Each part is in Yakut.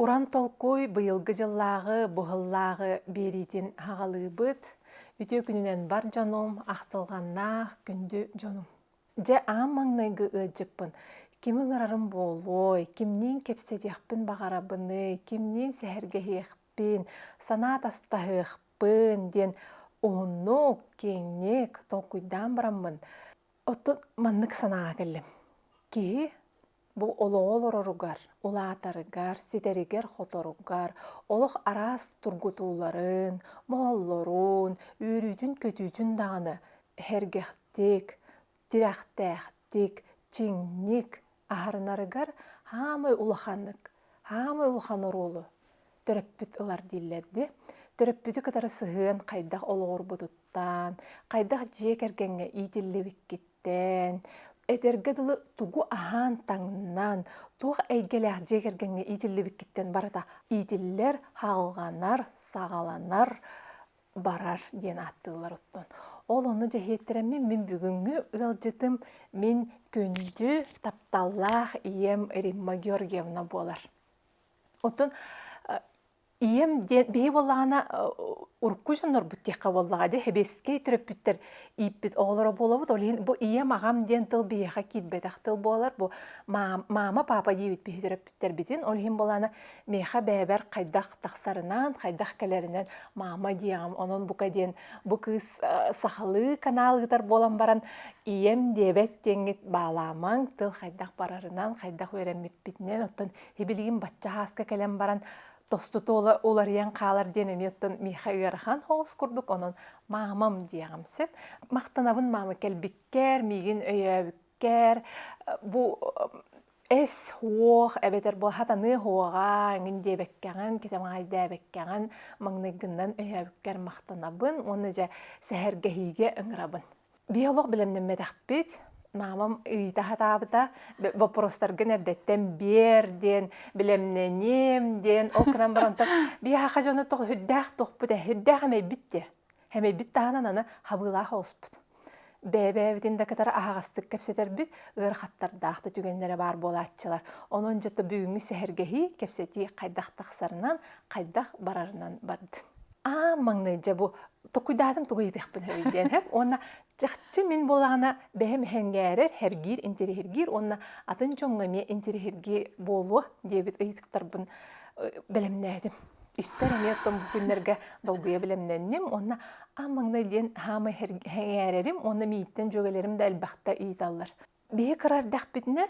Уран толкуй быйылгы дьыллааҕы быһыллааҕы биэриитин хаҕалыыбыт. Үтүө күнүнэн бар дьонум, ахтылҕаннаах күндү дьонум. Дьэ, аан маҥнайгы ыалдьыппын. Ким ыҥырарым буолуой, кимниин кэпсэтиэхпин баҕарабыный, кимниин сэһэргэһиэхпин, санаа атастаһыахпын диэн уһуннук, киэҥник толкуйдаан бараммын, оттон маннык санааҕа кэллим. Киһи Бу олоҕу олороругар, улаатарыгар, ситэригэр-хоторугар олох араас тургутууларын, мооллорун, үөрүүтүн-көтүүтүн даҕаны эһэргэхтик, тирэхтээхтик, чиҥник аһарынарыгар хаамай улаханнык, хаамай улахан оруолу төрөппүт ылар дииллэр ди. Төрөппүтү кытары сыһыан хайдах олоҕурбутуттан, хайдах дьиэ кэргэҥҥэ иитиллибиккиттэн, этэргэ дылы тугу аһаан-таҥнан, туох эйгэлээх дьиэ кэргэҥҥэ иитиллибиккиттэн барыта иитиллэр, хаалганар, саҕаланар, барар диэн ааттыыллар оттон. Ол ону дьэһиэттэрэммин мин бүгүҥҥү ыалдьытым мин күндү, тапталлаах ийэм Римма Георгиевна буолар. Отон ийэм диэн биһи буоллаҕына урукку дьоннорбут диэххэ буоллаҕа дии хэбиэскэй төрөппүттэр ииппит оҕолоро буолабыт ол иһин бу ийэм аҕам диэн тыл биһиэхэ киирбэтэх тыл буолар бу маама папа диэбит биһи төрөппүттэрбитин ол иһин буолаана миэхэ бэйэбэр хайдах тахсарынан хайдах кэлэринэн маама диэҕим онон бука диэн бу кыыс сахалыы канал ыытар буолан баран ийэм диэбэт диэҥҥит баалаамаҥ тыл хайдах барарынан хайдах үөрэммиппитинэн оттон Тибилигин бачча хааска кэлэн баран тостутуола уларыйан хаалар диэн эмиэттэн миэхэ ыарахан хоос курдук онон маамам диэҕим сеп махтанабын маама кэлбиккэр миигин өйөөбүккэр бу эс уох эбэтэр бу хатаныы уоҕа эҥин диэбэккэҕин кэтэҕэйдээбэккэҕин маҥнайгыннан өйөөбүккэр махтанабын уонна дьэ сэһэргэһиигэ ыҥырабын Биолог билэмнэммэтэхпит, маамам ыйыта сатаабыта, боппуруостаргын эрдэттэн биэр диэн, билэмнэниэм диэн, ол гынан баран то биһиэхэ дьоно тоҕо үрдээх туохпут ээ, үрдээх эмэйбит диэ, эмэйбит таһынан аны хабыылаах оҕуспут. Бэйэ-бэйэбитин да кытары аһаҕастык кэпсэтэрбит, ыарахаттардаахтык түгэннэрэ баар буолааччылар. Онон дьэ то бүгүҥҥү сэһэргэһии, кэпсэтии хайдах тахсарынан, хайдах барарынан бардын. аа маҥнай дьэ бу токуйдаатым тугу ыйытыахпын сөбүй диэн эһэм уонна чахчы мин буолаҕына бэйэм эһэҥҥээрэр хэргиир интириэһиргиир уонна атын дьоҥҥо эмиэ интириэһиргии буолуо диэбит ыйытыктарбын бэлэмнээтим испэр эмиэ оттон бу күннэргэ долгуйа бэлэмнэнним уонна аа маҥнай диэн хаамай эһэҥээрэрим уонна мииттэн дьүөгэлэрим да элбэхтэ ыйыталлар биһи кыра эрдэхпитинэ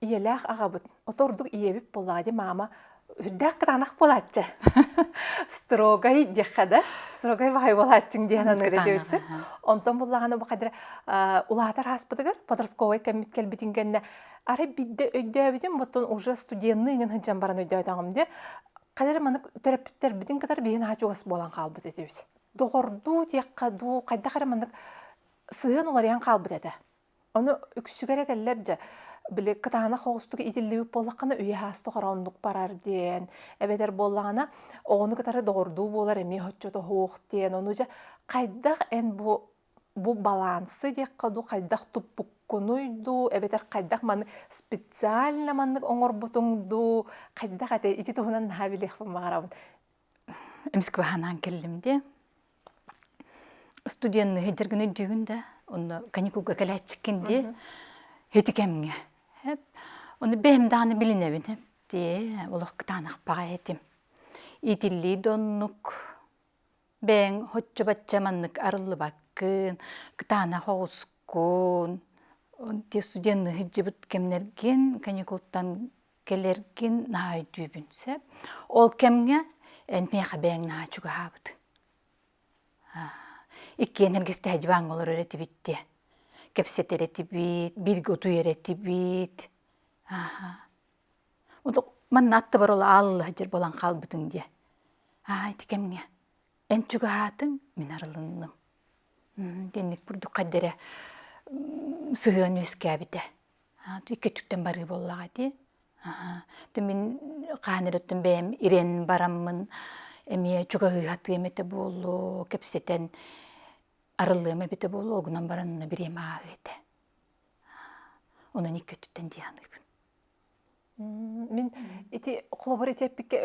ийэлээх аҕабыт отордук ийэбит Палади маама үрдээх кытаанах буолааччы строгай диэххэ да строгай баҕайы буолааччыҥ диэн аныыр этибит син онтон буллаҕына бу хадара улаатар ааспытыгар подростковай кэммит кэлбитин кэннэ арай бидde өйдөөбүтүм оттон уже студенныы гын сылдьан баран өйдөөтөҕүм де хадара маны төрөппүттэрбитин кытары биһин аа чугас буолан хаалбыт этибит доҕордуу диэххэ дуу хайдах эрэ маннык сыһыан уларыйан хаалбыт этэ Ону үксүгэр этэллэр дьэ, били кытаанах оҕустук итиллибит буоллаххына үйэ-аас тухары оннук барар диэн, эбэтэр буоллаҕына оҕону кытары доҕордуу буолар эмиэ отчуот оһуох диэн, ону дьэ хайдах эн бу бу балансы диэххэ дуу, хайдах туппуккунуй дуу, эбэтэр хайдах маны специально маннык оҥорбутуҥ дуу, хайдах этэ ити туһунан наһаа билиэхпин баҕарабын. Москванаан келлим дии. Студенныһы дьэр гына өйдүүгүн да, онно каникулга кэлээччиккин дии. Ити кэмҥэ. Ону бэйэм даҕаны билинэбин. Тээ, олох кытаанахпаҕай этим. Итиллии да оннук. Бэйэҥ һоччо-бачча маннык арыллыбаккын, кытаанах оҕускун. Те студенныһы дьыбыт кэмнэргин каникултан кэлэргин наһаа өйдүүбүн сөп ол кэмҥэ эн миэхэ бэйэҥ наһаа чугаһаабыт иккиэн эргистэһэ диванга олорор этибит диэ кэпсэтэр этибит бииргэ утуйар этибит манна аттыбар ол аалла сылдьар буолан хаалбытыҥ диэ аа ити кэмҥэ эн чугаһаатыҥ мин арылынным диэнник бурдук хайдара сыһыан үөскээбитэ иккитүттэн барыы буоллаҕа ити то мин хаан өрүттэн бэйэм ирэн бараммын эмиэ чугаһыыһатыам этэ буолуо кэпсэтэн арыллыам эбитэ буолуо огунан баран аны бириэмэ ааһыа этэ онон иккититтэн дии саныыбын Мин ити холобур этиэппиккэ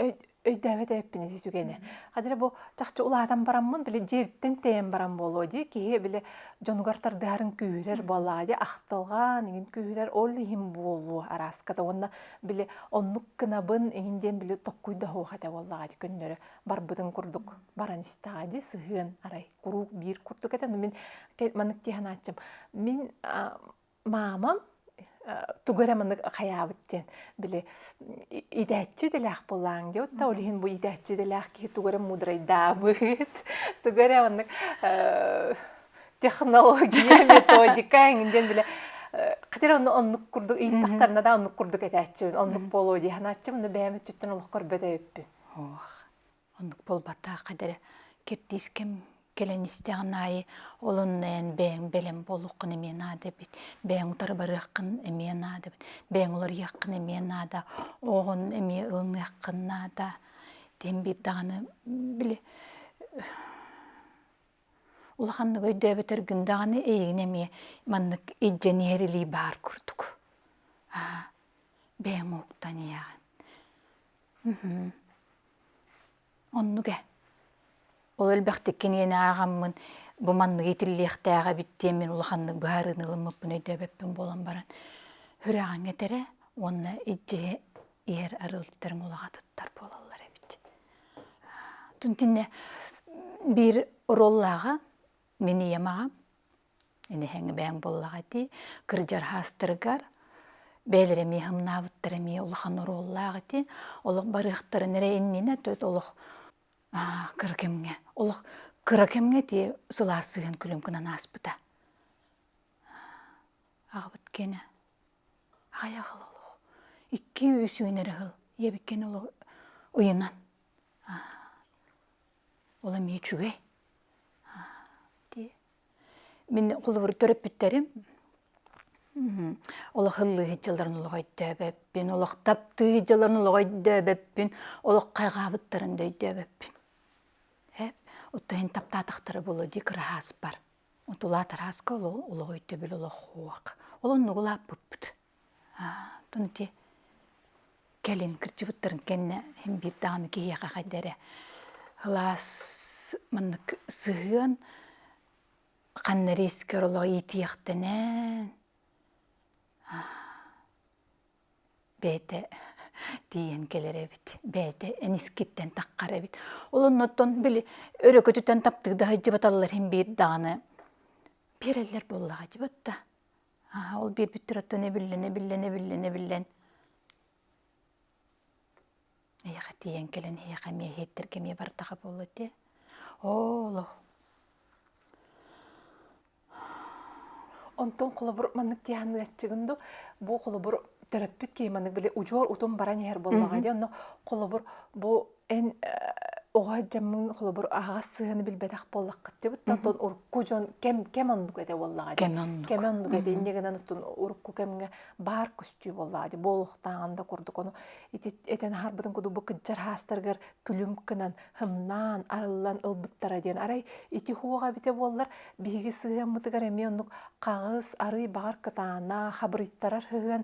өйдөөбөт эбиппин ити түгэни. Хадьа бу чахчы улаатан бараммын, били дьиэбиттэн тэйэн баран буолуо дии, киһи били дьонугар тардыһарын күүһүрэр буоллаҕа дии, ахтылҕаан иҥин күүһүрэр ол иһин буолуо арааската уонна били оннук гынабын иҥин диэн били токкуй да суох этэ буоллаҕа дии көннөрө барбытын курдук баран истэҕэ дии сыһыан арай куруук биир курдук этэ. Но мин маннык дии санааччым. Мин маамам тугу эрэ маннык хайаабыт диэн били идээччи идэлээх буолааҥ диэбит да ол иһин бу идээччи идэлээх киһи тугу эрэ муудрайдаабыт тугу эрэ маннык технология методика эҥин диэн бile хотя онно оннук курдук ыйытахтарына да оннук курдук этээччибин оннук буолуо дии санааччым но бэйэм өттүттэн олох көрбөт эбиппин Оннук буолбатаах кадары киртиис кэм кэлэн истэҕин аайы олоннойон бэйэҥ бэлэм буолуоххун эмиэ наада эбит. Бэйэҥ утары барыаххын эмиэ наада эбит. Бэйэҥ уларыйыаххын эмиэ наада. Оҕоҕун эмиэ ылыныаххын наада. Диэн биир даҕаны били улаханнык өйдөөбөтөр күн даҕаны эйигин эмиэ маннык илдьэн иһэр илии баар курдук. Аа бэйэҥ ууктан ийэҕин. Оннук ээ. Ол элбэхтик кинигэни ааҕаммын бу маннык иитиллиэхтээх эбит диэн мин улаханнык быһаарыыны ылыммыппын өйдөөбөппүн буолан баран сүрэҕиҥ этэрэ уонна илдьиһи иһэр арыалдьыттарыҥ улаҕатыттар буолаллар эбит. Тунтинэ биир оруоллааҕа мин ийэм аҕам Инэһэҥи буоллаҕа дии. Кырдьархаастарыгар бэйэлэрэ эмиэ хамнаабыттара эмиэ улахан оруоллаах ити. Олох барыахтарын эрэ иннинэ төт олох кыра кэмҥэ олох кыра кэмҥэ тиийэ сылаас сыһыан күлүм гынан ааспыта. Аҕабыт киэнэ хайах ыл олох икки үс үүнэр ыһыл ийэбиккин олох уйунан ол эмиэ үчүгэй Мин холобур төрөппүттэрим олох ыллыы сылдьалларын олох өйдөөбөппүн, олох таптыы сылдьалларын олох өйдөөбөппүн, олох хайҕаабыттарын да өйдөөбөппүн. Оттон иһин таптаатахтара буолуо дии кыраһаас бар. Тулаат арааска олох өйдөбүл олох уох. Ол оннук улааппыппыт. Оттон ити кэлин кырдьыбыттарын кэннэ син биир даҕаны киһиэхэ хайда эрэ алаас маннык сыһыан ханна эрэ искэр олох иитиэхтэнэн бэйэтэ тиийэн кэлэр эбит бэйэтэ эн искиттэн таххар эбит ол оннуттан били өрөкөтүтэн таптыырда сылдьыбаталлар син биир даҕаны биэрэллэр буоллаҕа дьыбыт да Ол биэрбиттэр оттон эбиллэн, эбиллэн, эбиллэн, эбиллэн. Эйиэхэ тиийэн кэлэн эһиэхэ эмиэ иһиттэргэ эмиэ бардаха буолла дии. Оо олох. Онтон холобур маннык тиһааннык аччыгын ду бу холобур төрөппүт киһи маннык били удьуор утум баран иһэр буоллаҕа дии онно холобур бу Эн оҕо дьаммын холобур аһаҕас сыһыаны билбэтэх буоллаххытчыбыт да тон урукку дьон кем кем оннук этэ буоллаҕа дии. Кем оннук. Кем оннук этэ инньэ гынан оттон урукку кэмҥэ баар көстүү буоллаҕа дии. Буолуохтааҕын да курдук ону ити этэн аһарбытын курдук бу кыддьархаастарыгар күлүм кынан хымнаан арыллан ылбыттара диэн. Арай ити хуоҕа эбитэ буоллар биһиги сыһыаммытыгар эмиэ оннук хаҕыс, арыый баҕар кытаанах, хабырыйтарар сыһыан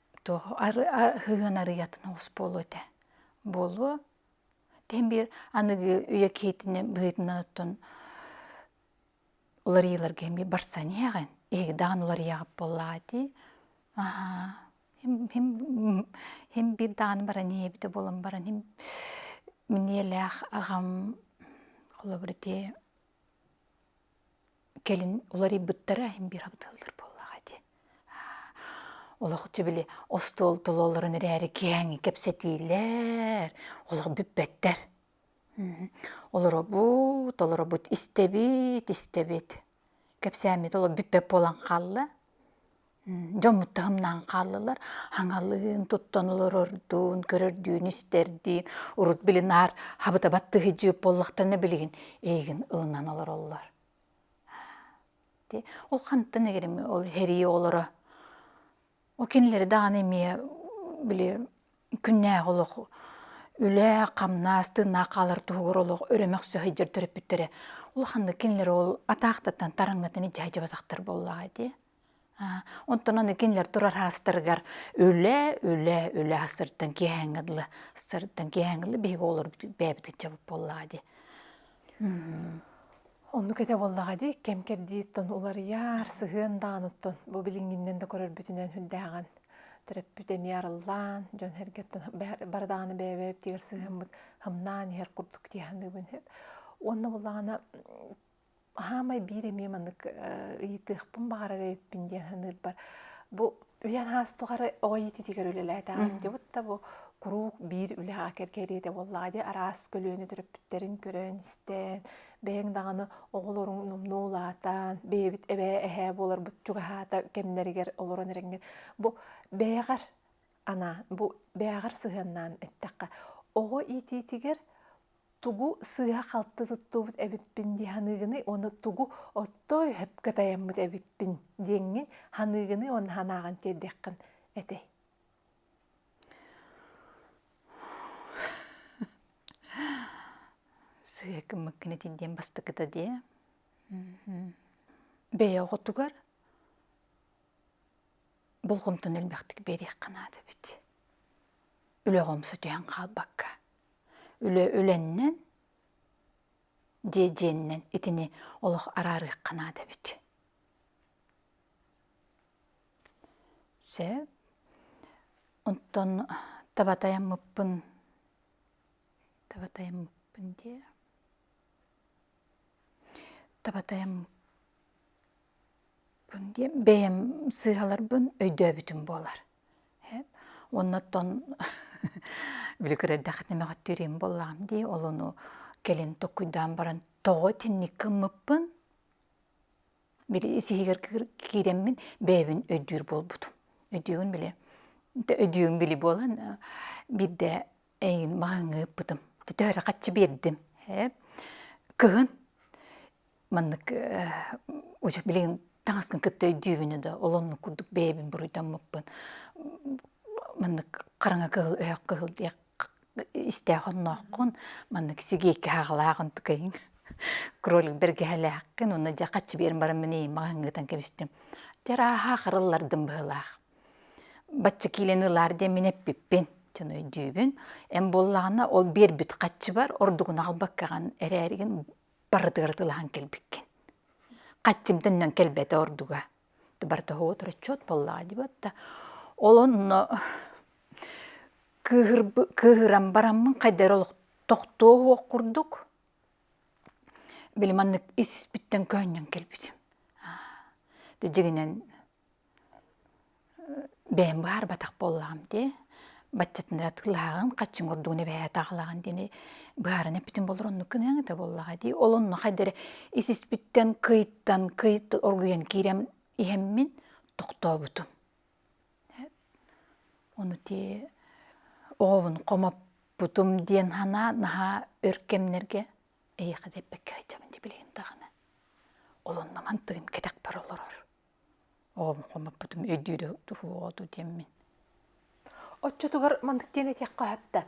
то сыһыан арыйатын оҕус буолуо этэ буолуо тэн биир аныгы үйэ киһитинэ быһыытынан оттон уларыйыыларга эмиэ барсаниа ҕэн иһиги даҕаны уларыйаҕыт буоллаҕа дии хим биир даҕаны баран иһэбитэ буолан баран хим миниэлээх аҕам холобур ити Кэлин уларыйбыттара иһин биир абыталлар буоллаҕа дии. Олохчу били остуол толоолорун эрээри киэҥи кэпсэтиилэр, олох бүппэттэр. Олоробут, толоробут, истэбит, истэбит. Кэпсээммит олох бүппэт буолан хаалла. дьоммут таһымнаан хааллылар. Хаҥалыын туттан олорордуун, көрөрдүүн, истэрдиин урут били наар хабыта баттыһыдьыып буоллахтана билигин эйигин ылынан олороллор. Ол хантан эгерими ол херии олоро. Ол кинилэри даҕаны эмиэ били күннээх олох үлэ, хамнас, тыыннаах хаалар туһугар олох өрөмөх сөхөйдөр төрөппүттэрэ. Ол ханнык кинилэр ол атаахтатан тараҥнатан дьаһайдьыбатахтар буоллаҕа дии. Онтунан итиннэр турар хаастарыгар үлэ, үлэ, үлэ астыртан киэһэҥҥэ дылы астыртан киэһэҥҥэ дылы биһиги оҕолор бэйэбит ыччабыт буоллаҕа дии. Оннук этэ буоллаҕа дии кэм-кэрдииттэн уларыйар сыһыан даҕаны оттон бу билиҥҥиннэн да көрөрбүтүнэн үрдээҕин төрөппүт эмиэ арыллаан дьон сэргэттэн бары даҕаны бэйэ-бэйэбитигэр сыһыаммыт хамнаан иһэр курдук дии саныыбын уонна буоллаҕына хаамай биир эмиэ маннык ыйытыахпын баҕарар эбиппин диэн саныырбар бу үйэн аас тухары оҕо иититигэр үлэлээтэҕим дьыбыт да бу куруук биир үлэҕэ кэргэриэтэ буоллаҕа дии араас көлүөнэ төрөппүттэрин көрөн истэн бэйэҥ даҕаны оҕолоруҥ номнуо улаатан бэйэбит эбээ эһээ буоларбыт чугаһаата кэмнэригэр олорон эрэҥҥин бу бэйэҕэр анаа бу бэйэҕэр сыһыаннаан эттэххэ оҕо иитиитигэр тугу сыыһа-халты туттубут эбиппин дии саныыгыный уонна тугу оттоой хөпкө тайаммыт эбиппин диэҥҥин саныыгыный уонна санааҕын тиэрдиэххин этэй сыыһа кымыккын этин диэн бастакыта дии бэйэ оҕотугар болҕомтону элбэхтик биэриэххэ наада эбит үлэ омсу түһэн хаалбакка үлэ үлэннэн дьиэдьиэнинэн итини олох араарыахха наада эбит сэ онтон табатаяммыппын табатаяммыппын диэ табатаяммыппын диэ бэйэм сыыһаларбын өйдөөбүтүм буолар Оннуттан били кыра эрдэхитинэ мөҕүттүүрүм буоллаҕым дии, ол ону кэлин токкуйдаан баран тоҕо итинник гыммыппын, били сиһигэр киирэммин бэйэбин өйдүүр буолбутум. Өйдүүгүн били, өйдүүгүн били буолан, биирдэ эйин маһыҥы ыппытым төтөөрү хаччы биэрдим э кыһын маннык уже билигин таҥаскын кытта өйдүүбүнэ да олоннук курдук бэйэбин буруйдаммыппын маннык хараҥа кыһыл өһөх кыһыл диэх истээх оннооххун маннык сигиэкки хаалаах онтукайыҥ кролик бэргэһэлээххин уонна дьэ хаччы биэрэн баран мин маҕаһыҥҥытан кэбистим дьэ арааһа харыллардым быһыылаах Бачча киилэни ылаар диэн мин эппиппин, дьон өйдүүбүн. Эн буоллаҕына ол биэрбит хаччыбар ордугун аҕалбаккаҕын эрээригин барытыгар атыылаһан кэлбиккин. Хаччым төннөн кэлбэтэ ордуга. Барыта оҕолотор отчуот буоллаҕа дии буолта. Ол онно кыыһыран бараммын хайдары олох тохтуо уох курдук, били маннык ис испиттэн көһүнньэн кэлбитим. Дьиҥинэн бэйэм быһаарбатах буоллаҕым дии баччатынара атыылаһаҕын хаччыҥ ордугун эбэһээ атаҕалааҕын диэни быһааран эппитим болур оннук гыныаҥ этэ буоллаҕа дии ол онно хайдары ис-испиттэн кыйтан кыйт оргуйан киирэн иһэммин тохтообутум ону дии оҕобун хомоппутум диэн санаа наһаа өр кэмнэргэ эйиэхэ диэбэккэ сылдьабын дии билигин даҕаны ол онно мантыгым кэтэх бара олорор оҕом хомоппутум өйдүүрэ туһуоҕа ту диэммин Оччотугар маннык диэн этиэххэ сөптө.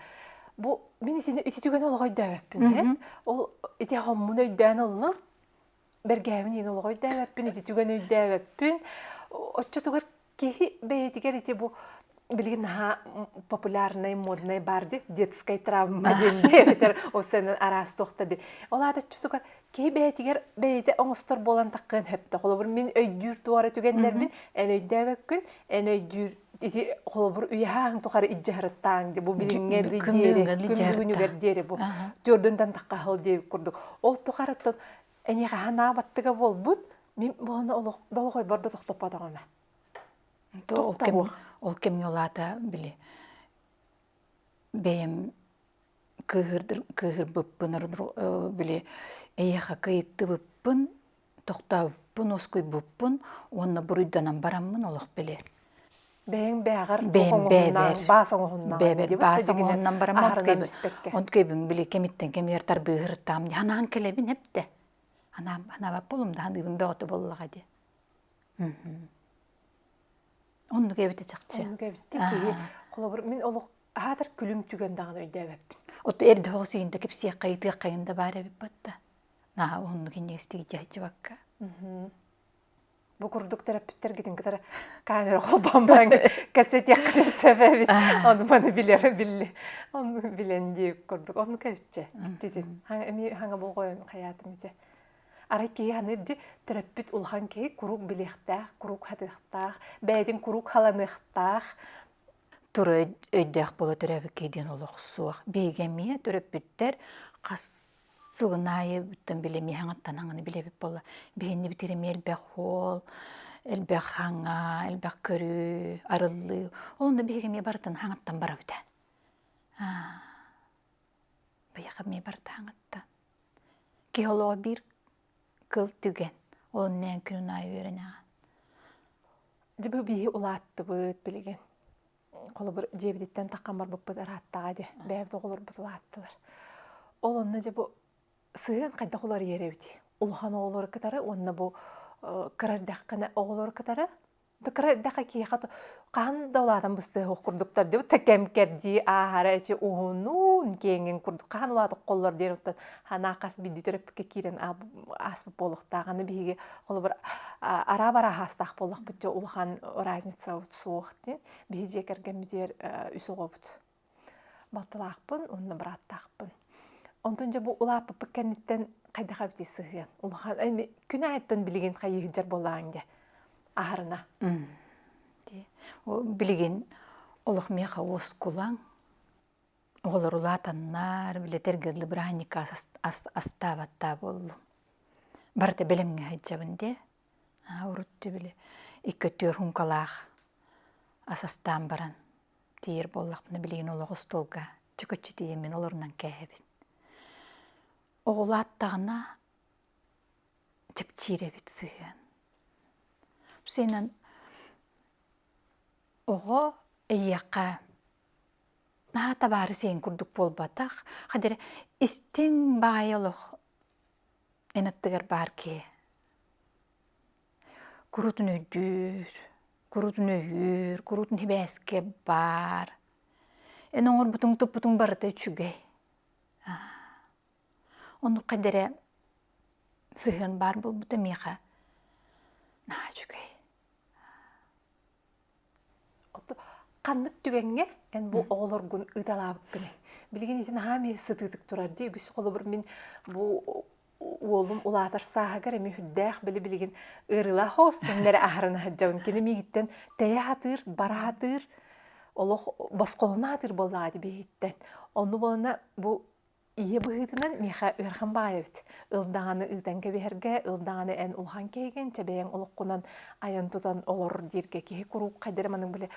Бу мин итини ити түгэн олоҕо өйдөөбөппүн ээ. Ол ити хоһмун өйдөөн ыллым. Бэргээбин иһин олоҕо өйдөөбөппүн, ити түгэн өйдөөбөппүн. Оччотугар киһи бэйэтигэр ити бу билигин наһаа популярнай моднай баар ди детскай травма диэн дии эбэтэр ол сэнэн араас тохта ди ол аатаччытыгар киһи бэйэтигэр бэйэтэ оҥостор буолан таххыан сөптө холобур мин өйдүүр туора түгэннэрбин эн өйдөөбөккүн эн өйдүүр ити холобур үйэһааһын тухары иддьаһырыттааҥ ди бу билиҥҥэ диэри күн бүгүнүгэр диэри бу төрдүнтэн таххаһыл диэ курдук ол тухарыттан эни хаһан аабаттыга буолбут мин буһана олох долгой борбо тохтоппотоҕуна ол кэм ол кэмҥэ улаата били бэйэм кыыһырбыппын били эйиэхэ кыйыттыбыппын тохтообуппун уоскуйбуппун уонна буруйданан бараммын олох били бэйэҥ бэйэҕэр баас оҥоһуннаҕын онкуйбун били кэмиттэн кэмигэр тарбыыһыртаам анаан кэлэбин эптэ анаабаппа олумдаһаныыбын бөҕөтө буоллаҕа дии Оннук эбитэ чахчы. Оннук эбитти киһи холобур мин олох аатар күлүм түгэн даҕаны өйдөөбөппүн. Отто эр да хоҕус иһин да кэпсиэххэ ыйытыаххайын да баар эбит бытта. Наа оннук иннигистик дьаһычыбакка. Бу курдук төрөппүттэргитин кытары камера холбоон баран кэссэтиэххитин сөбө эбит. Ону маны билэрэ билли. Ону билэн дии курдук. Оннук эбитчэ. Дьиттитин. Хаҥа эмиэ хаҥа болҕойон хаятым ичэ. Арай киһи ханыыр дьи төрөппүт улахан киһи куруук билиэхтээх, куруук хатыахтаах, бэйэтин куруук халаныахтаах. Тура өйдөөх буола төрөөбүккэ диэн олох суох. Биһиги эмиэ төрөппүттэр хас сылын аайы бүтэн били эмиэ хаҥаттанаҕын билэбит буолла. Биһинни битир эмиэ элбэх уол, элбэх хаҥа, элбэх көрүү, арыллыы. Ол онно биһиги эмиэ барытын хаҥаттан барабыта. Аа Быйаха мии бартааңатта. Киһи олоҕо биир кыл түгэн. Олон нээн күнүн аайы үөрэнэҕэ. Дьэ бу бииһи улааттыбыт билигин. Холобур дьиэбититтэн таххан барбыппыт ырааттаҕа дьэ. Бэйэбит оҕолорбут улааттылар. Ол онно дьэ бу сыһыан хайдах уларыйар эбитий? Улахан оҕолору кытары уонна бу кыра эрдэххинэ оҕолору кытары Да кыра эрдэххэ киһиэхэ хаһан да улаатан быстыах курдуктар диэн утта кэм-кэрдии ааһара эчи уһуннуун киэҥин курдук хаһан улаатык холлор диэн оттон ханаа хас биирдии төрөппүккэ киирэн ааспыт буолуохтаах аны биһиги холобур араа барааһаастаах буоллахпыт дьэ улахан разница суох диэн биһи дьиэ кэргэммитигэр үс оҕобут балтылаахпын уонна бырааттаахпын онтон дьэ бу улааппыппыт кэнниттэн хайдах эбитий сыһыан улахан күн аайыттан билигин хайыы сылдьар буоллаҕыҥ дии аһарына билигин олох миэхэ уоскулаҥ оҕолор улаатаннар билэтэр гырлы бырааһынньыкка астаабаттаа буоллум барыта бэлэмҥэ сылдьабын дии уруту били икки төрт һуҥкалаах ас астаан баран Тиер буоллахпына билигин олох остуолга чөкөччү тиийэммин олорунан кээһэбин. Оҕул ааттаҕына чэпчиир эбит сыһыан. Сенен оҕо эйиэхэ наһаа табаары сиэн курдук буолбатах. Хадыр истиҥ баайа олох эн аттыгар баар киһи. Курутун өйдүүр, курутун өйүүр, курутун сибээскэ баар. Эн оҥорбутуҥ-туппутуҥ барыта үчүгэй. Оннукка да эрэ сыһыан баар буолбута миэхэ наһаа үчүгэй. Ханнык түгэҥҥэ эн бу оҕолоргун ыыталаабыккыный? Билигин ити наһаа эмиэ сытыытык турар дии. Үгүс холобур мин бу уолум улаатар сааһыгар эмиэ үрдээх били билигин ыарыылаах хостуннары аһаран сылдьабын. Кини миигиттэн тэйэ сатыыр, бара сатыыр, олох босхолоно сатыыр буоллаҕа ити биһиттэн. Ону буолана бу Ийэ быһыытынан миэхэ ыарахан баҕайы эбит. Ил даҕаны ыытан кэбиһэргэ, ил даҕаны эн улахан киһигин, чэбэйэҥ олоххунан айан-тутан олор дииргэ киһи куруук хайдары маннык били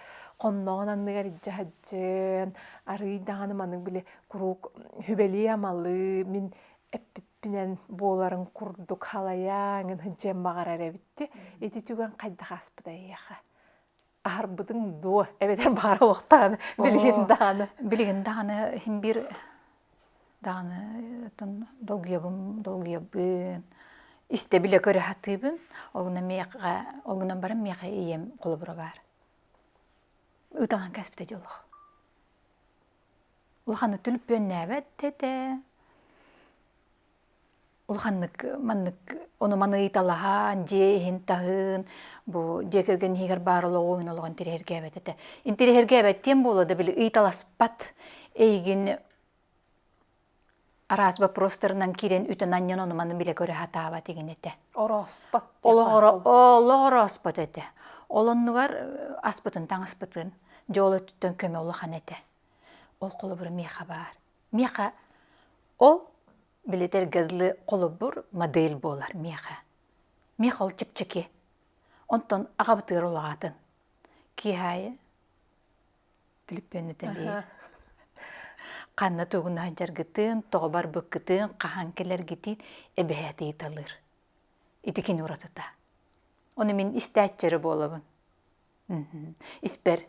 хонноҕун анныгар илдьэ сылдьан, арыый даҕаны маннык били куруук хүбэлии-амалыы мин эппиппинэн буоларын курдук халайан сылдьыан баҕарар эбит дии. Ити түгэн хайдах ааспыта эйиэхэ? аһарбытыҥ дуо эбэтэр баара олохтааны билигин дааны билигин дааны хим биир дааны тун долгуйабын долгуйабын истэ билэ көрө сатыыбын олгуна миэхэ олгуна баран миэхэ ийэм холобура баар ыталан кэспитэ дьолох улаханы түнүппүөннээбэт этэ Улханнык маннык ону маны ыйталаһан, дьиэ иһин таһыын бу дьиэ кэргэн иһигэр баар олоҕуҥ олоҕун тириһиргээбэт этэ. Ин тириһиргээбэттиэн буолуо да били ыйталаспат эйигин араас боппуруостарынан киирэн үтэн анньан ону маны билэ көрө сатаабат игин этэ. Орооспот олох орооспот этэ. Ол оннугар аспытын таҥаспытын дьол өттүттэн көмө улахан этэ. Ол холобура миэхэ баар. Миэхэ ол билэтэр газлы холобур модель буолар миэхэ. Миэх ол чэпчэки. Онтон агабытыыр улаҕатын. Киһаайы түлүппүөнүтэлиир. Ханна тугуна дьаргытын, тоҕо барбыккытын, хаһан кэлэргитин эбэһээтэ ыйыталыыр. Ити кини уратыта. Ону мин истээччи эрэ буолабын. Испэр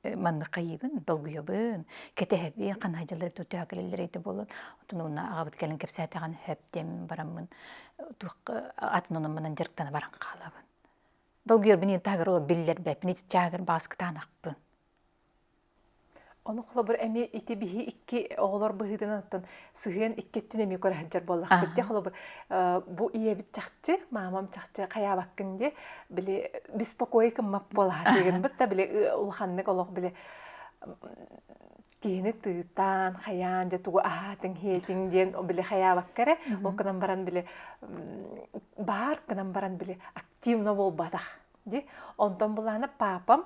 манныкайыбын, долгуйабын, кэтэһэбин, ханаһайдьалары төтөөкөлөллөр ити болон. Отон уна агабыт кэлин кэпсээтэҕин хөптем бараммын туохка атын онон манан дьарыктана баран хаалабын. Долгуйарбын ин тагар ол биллэр бэпини чаагыр бааскытаанахпын. Ону холобур эми ити биһи икки оҕолор быһыытынан оттон сыһыан икки өттүн эмиэ көрө сылдьар буоллахпыт дии холобур бу ийэбит чахчы маамам чахчы хайаабаккын дии били беспокой гыммат буолаха тыгынбыт да били улаханнык олох били киһини тыытаан хайаан дьэ тугу аһаатыҥ иһиэтиҥ диэн били хайаабакка эрэ ол гынан баран били баар гынан баран били активно буолбатах ди онтон былаана папам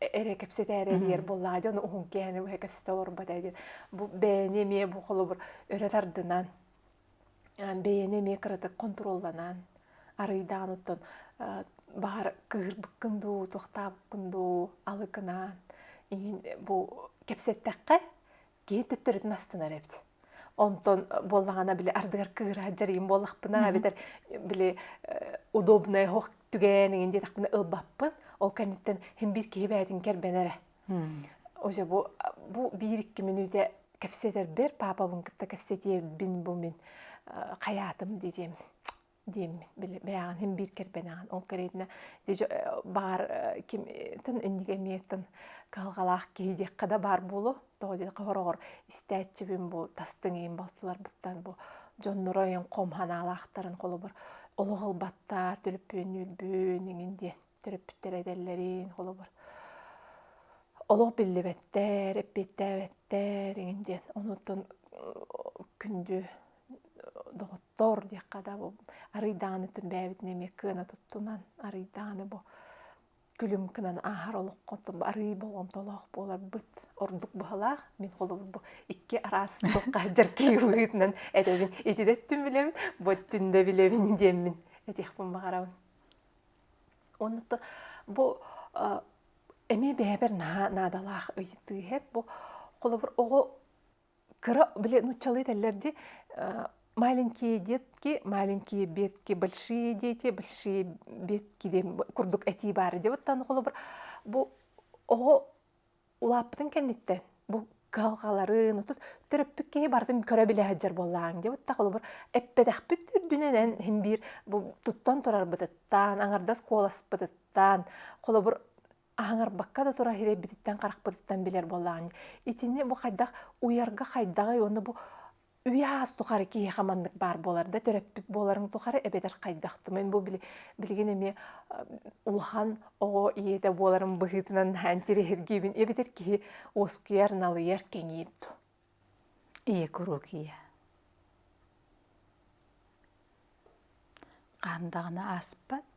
эрэ кэпсэтээри эрийэр буоллаҕа дьон уһун кээни быһа кэпсэтэ олорбот ээ диэн бу бэйэни эмиэ бу холобур өрө тардынан бэйэни эмиэ кыратык хонтуруолланан арыйдаан оттон баҕар кыырбыккын дуу туохтаабыккын дуу алыкынаан иҥин бу кэпсэттэххэ киһи төттөрүтүн астынар эбит онтон буоллаҕына били ардыгар кыыраат дьарыйым буоллахпына эбэтэр били удобная ох түгээн игин диэтэхпинэ ылбаппын ол кэнниттэн хин биир киһи бээтин кербенэрэ уже бу бу биир икки мүнүүтэ кэпсэтэрбэр папабын кытта кэпсэтиэбин бу мин хаятым дидем диэммит били бэйэҕин һин биир кэрбэнэҕин ол кэриэтинэ баар кимтэн инники эмиэтин кыһалҕалаах киһи диэххэ да баар буолуо тоҕо диэтэр хороҕор истээччибин бу тастыҥ иин балтыларбыттан бу дьонноро өйөн хом санаалаахтарын холобур олох ылбаттар төлөпүөннүүрбүн иҥин диэн төрөппүттэр этэллэрин холобур олох биллибэттэр эппиэттээбэттэр иҥин диэн онуттан күндү доҕоттоор диэххэ да бу арыйдааны түрбээбитин эмиэ кыана туттунан арыйдааны бу күлүм гынан ааһар олоххотун арыый болҕомтолоох буоларбыт ордук быһалаах мин холобур бу икки араас туохха дьаркыйыытынан этэбин ити да өттүн билэбин бу өттүн да билэбин диэммин этиэхпин баҕарабын онно бу эмиэ бэйэбэр наадалаах ыйытыы эб бу холобур оҕо Кыра, блин, нуччалыы этэллэр дии, маленькие детки, маленькие бетки, большие дети, большие бетки диэн курдук этии баара диэбиттэн холобур бу оҕо улааппытын кэнниттэн бу кыһалҕаларын отут төрөппүт киһи барытын көрө билэ сылдьар буоллааҥ диэбиттэн холобур эппэтэхпит үрдүнэн син биир бу туттан турарбытыттан, аҥардас куоласпытыттан холобур аһыҥарбакка да турар ирэйбититтэн харахпытыттан билэр буоллаҕын итини бу хайдах уйарга хайдаҕый уонна бу үйэ аас тухары киһиэхэ маннык баар буолар да төрөппүт буоларыҥ тухары эбэтэр хайдах тумин бу билигин эмиэ улахан оҕо ийэтэ буоларым быһыытынан наһаан тириһиргиибин эбэтэр киһи уоскуйар налыйар кэҥиир Ийэ куруук ийэ. Хаан даҕаны ааспат.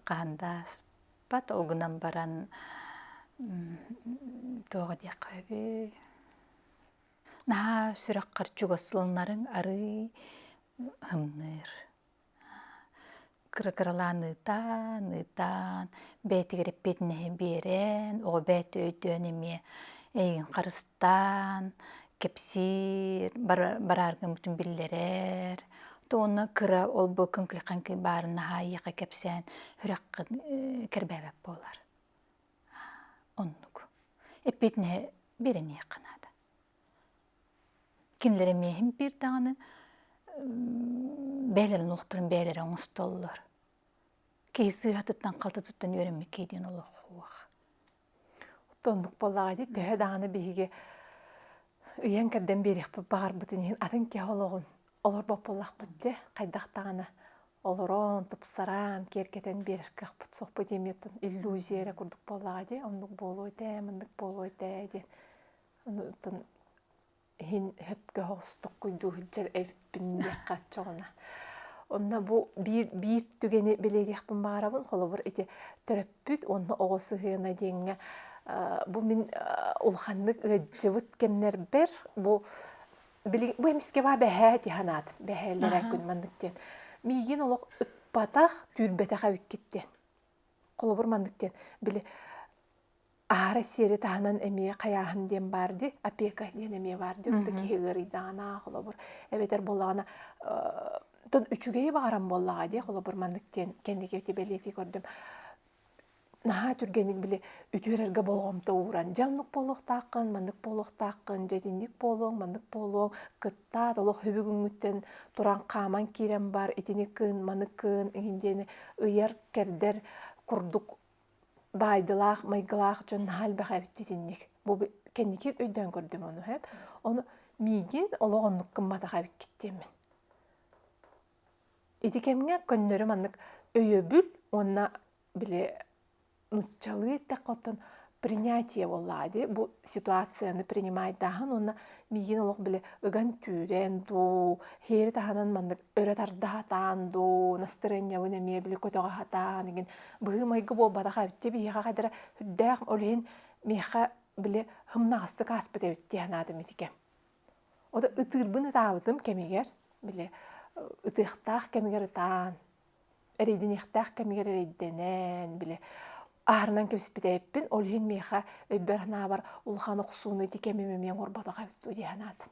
Хаан да ааспат, ол гынан баран тоҕо диэххэ үһү наһаа сүрэххэр чугас ылынарыҥ арыый һымныыр. кыра-кыралаан ыытаан, ыытаан, бэйэтигэр эппиэтинэһи биэрэн, оҕо бэйэтэ өйдөөн эмиэ эйигин харыстаан, кэпсиир, барааргын бүтүн биллэрэр. Уонна кыра олбуо күҥкүлэххин баарын наһаа эйиэхэ кэпсээн сүрэххин кэрбээбэт буолар. Оннук. Эппиэтинэһи биэрэниэххэ наада. Кимлэри миэхим биэрдэҕинэ бэйэлэрин олохторун бэйэлэрэ оҥостоллор. Киһи сыыһатыттан халтытыттан үөрэммиккэй диэн олохуох. Оннук буоллаҕа дии төһө даҕаны биһиги ыйан кэрдэн биэриэхпит баҕарбытын иһин атын киһи олоҕун олорбот буоллахпыт дьэ хайдах даҕаны олорон тупсаран киэргэтэн биэрэр кыахпыт суохпут эмиэ иллюзия эрэ курдук буоллаҕа дии оннук буолуо этэ муннук буолуо этэ диэн Оттон иһин хөпкө оҕустуккун дуу сылдьар эбиппин диэххэ оччоҕуна. Онно бу биир биир түгэни билиэриэхпин баҕарабын. Холобур, ити төрөппүт уонна оҕо сыһыана диэҥҥэ бу мин улаханнык ыалдьыбыт кэмнэрбэр бу били бу эмискэ баа бэһээ дии санаатым. Бэһээллэрэ күн маннык диэн. Миигин олох ыкпатах, түүрбэтэх эбиккит диэн. Холобур маннык диэн, били аара сиэри таһынан эмиэ хайааһын диэн баар дии опека диэн эмиэ баар дии вот киһи ыарыйдаҕына холобур эбэтэр буоллаҕына тон үчүгэйи баҕаран буоллаҕа дии холобур маннык диэн кэнники эти бэлиэтии көрдүм наһаа түргэнник били үтүөрэргэ болҕомто ууран дьэ оннук буолуохтааххын маннык буолуохтааххын дьэтинник буолуоҥ маннык буолуоҥ кыттаат олох хүбүгүҥҥүттэн тураан хааман киирэн бар итини кыын маны кыын иһин диэни ыйар кэрдэр курдук баайдылаах майгылаах дьон наһаа элбэх эбит итинник бу кэнники өйдөөн көрдүм ону эп ону миигин олох оннук гымматах эбиккит диэммин ити кэмҥэ көннөрү маннык өйөбүл уонна били нуччалыы эттэххэ оттон принятие буоллаҕа дии бу ситуацияны принимайдааһын уонна миигин олох били ыган түүрэн дуу хиэри таһынан маннык өрө тарда сатаан дуу, настырыанньабын эмиэ били көтөҕө сатаан игин быһыы-майгы буолбатах эбитти биһиэхэ хадара үрдээх олиһин миэхэ били хымнаҕастык ааспыт эбит дии санаатым итике. Ото ытыырбын ытаабытым кэмигэр били ытыахтаах кэмигэр ытаан, эрэйдэниэхтээх кэмигэр эрэйдэнэн били аарынан кэбиспитэйиппин ол иһин миэхэ өйбөр санаабар улахан охсууну ити кэмим эмиэ оҥорботох эбит дуу дии санаатым.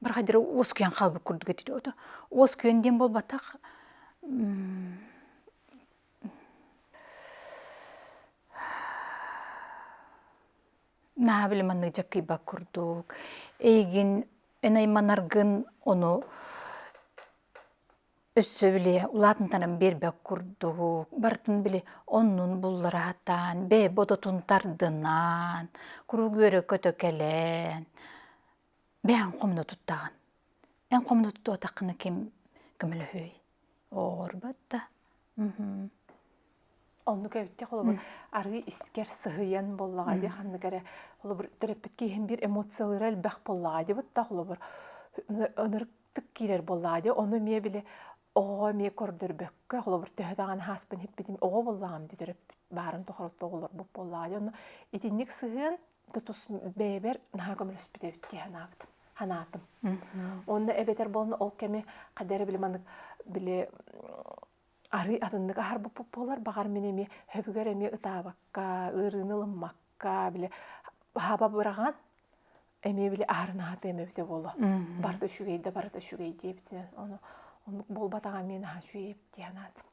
Барахайдары уоскуйан хаалбыт курдук этит ото. Уоскуйан диэн буолбатах, наһаа били маннык дьаккыйбат курдук. Эйигин эн айманаргын, ону Өссө били улаатынтанан биэрбэт курдук, барытын били оннун буллараатаан, бэйэ бодотун тардынаан, куруук үөрэ-көтө кэлэн, бэйэ эн хомуна туттаҕын. Эн хомуна туттубатаххына ким көмөлөһүүй? Оорбот да. Оннук эбитте холобур арыы искер сыһыйан боллаҕа дии ханнык эрэ холобур төрөппүт киһим биир эмоциялыыра элбэх боллаҕа дии бытта холобур ынырыктык киирэр боллаҕа дии ону эмиэ били оҕоҕо эмиэ көрдөрбөккө холобур төһө даҕаны ааспын иһиппитим оҕо боллаҕым дии төрөппүт баарын тухары отто оҕолорбут боллаҕа дии ону итинник сыһыан тутус бэйэбэр наһаа көмөлөспүт эбит дии санаабытым санаатым онно эбэтэр буолна ол кэми хадара били маннык били арыый атыннык аһарбыппыт буолар баҕар мин эмиэ өбүгэр эмиэ ытаабакка ыарыыны ылыммакка били баһаба быраҕан эмиэ били аһарын аһатыам эбитэ буолуо барыта үчүгэй да барыта үчүгэй диэбитинэн ону оннук буолбатаҕа миэн аһа үчүгэйэп дии санаатым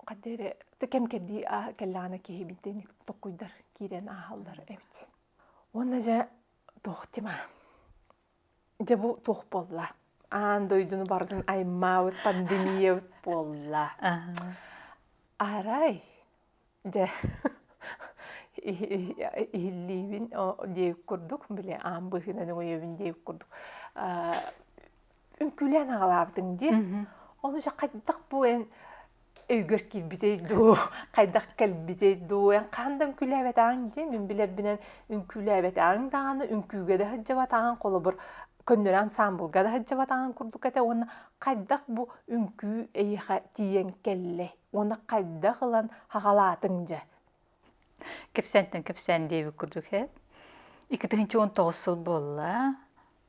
хадда эрэ кэмкэрдии аа кэллэҕинэ киһи биитинник токкуйдар киирэн ааһаллар эбит уонна дьэ туохтима Дьэ бу туох буолла? Аан дойдуну барытын аймаабыт пандемиябыт буолла. Арай дьэ иһиллиибин диэбит курдук били аан быһыынан өйөбүн диэбит курдук үҥкүүлээн аҕалаабытыҥ дии. Ону дьэ хайдах бу эн өйгөр киирбитэй дуу, хайдах кэлбитэй дуу, эн хаһан да үҥкүүлээбэтэҕиҥ дии, мин билэрбинэн үҥкүүлээбэтэҕиҥ даҕаны, үҥкүүгэ да сылдьыбатаҕыҥ, холобур, көннөрү ансаамбылга да сылдьыбатаҕыҥ курдук этэ уонна хайдах бу үҥкүү эйиэхэ тиийэн кэллэй уонна хайдах ылан хаҕалаатыҥ дьэ? Кэпсээнтэн кэпсээн диэбит курдук ээ. Икки тыһыынча уон тоҕус сыл буолла.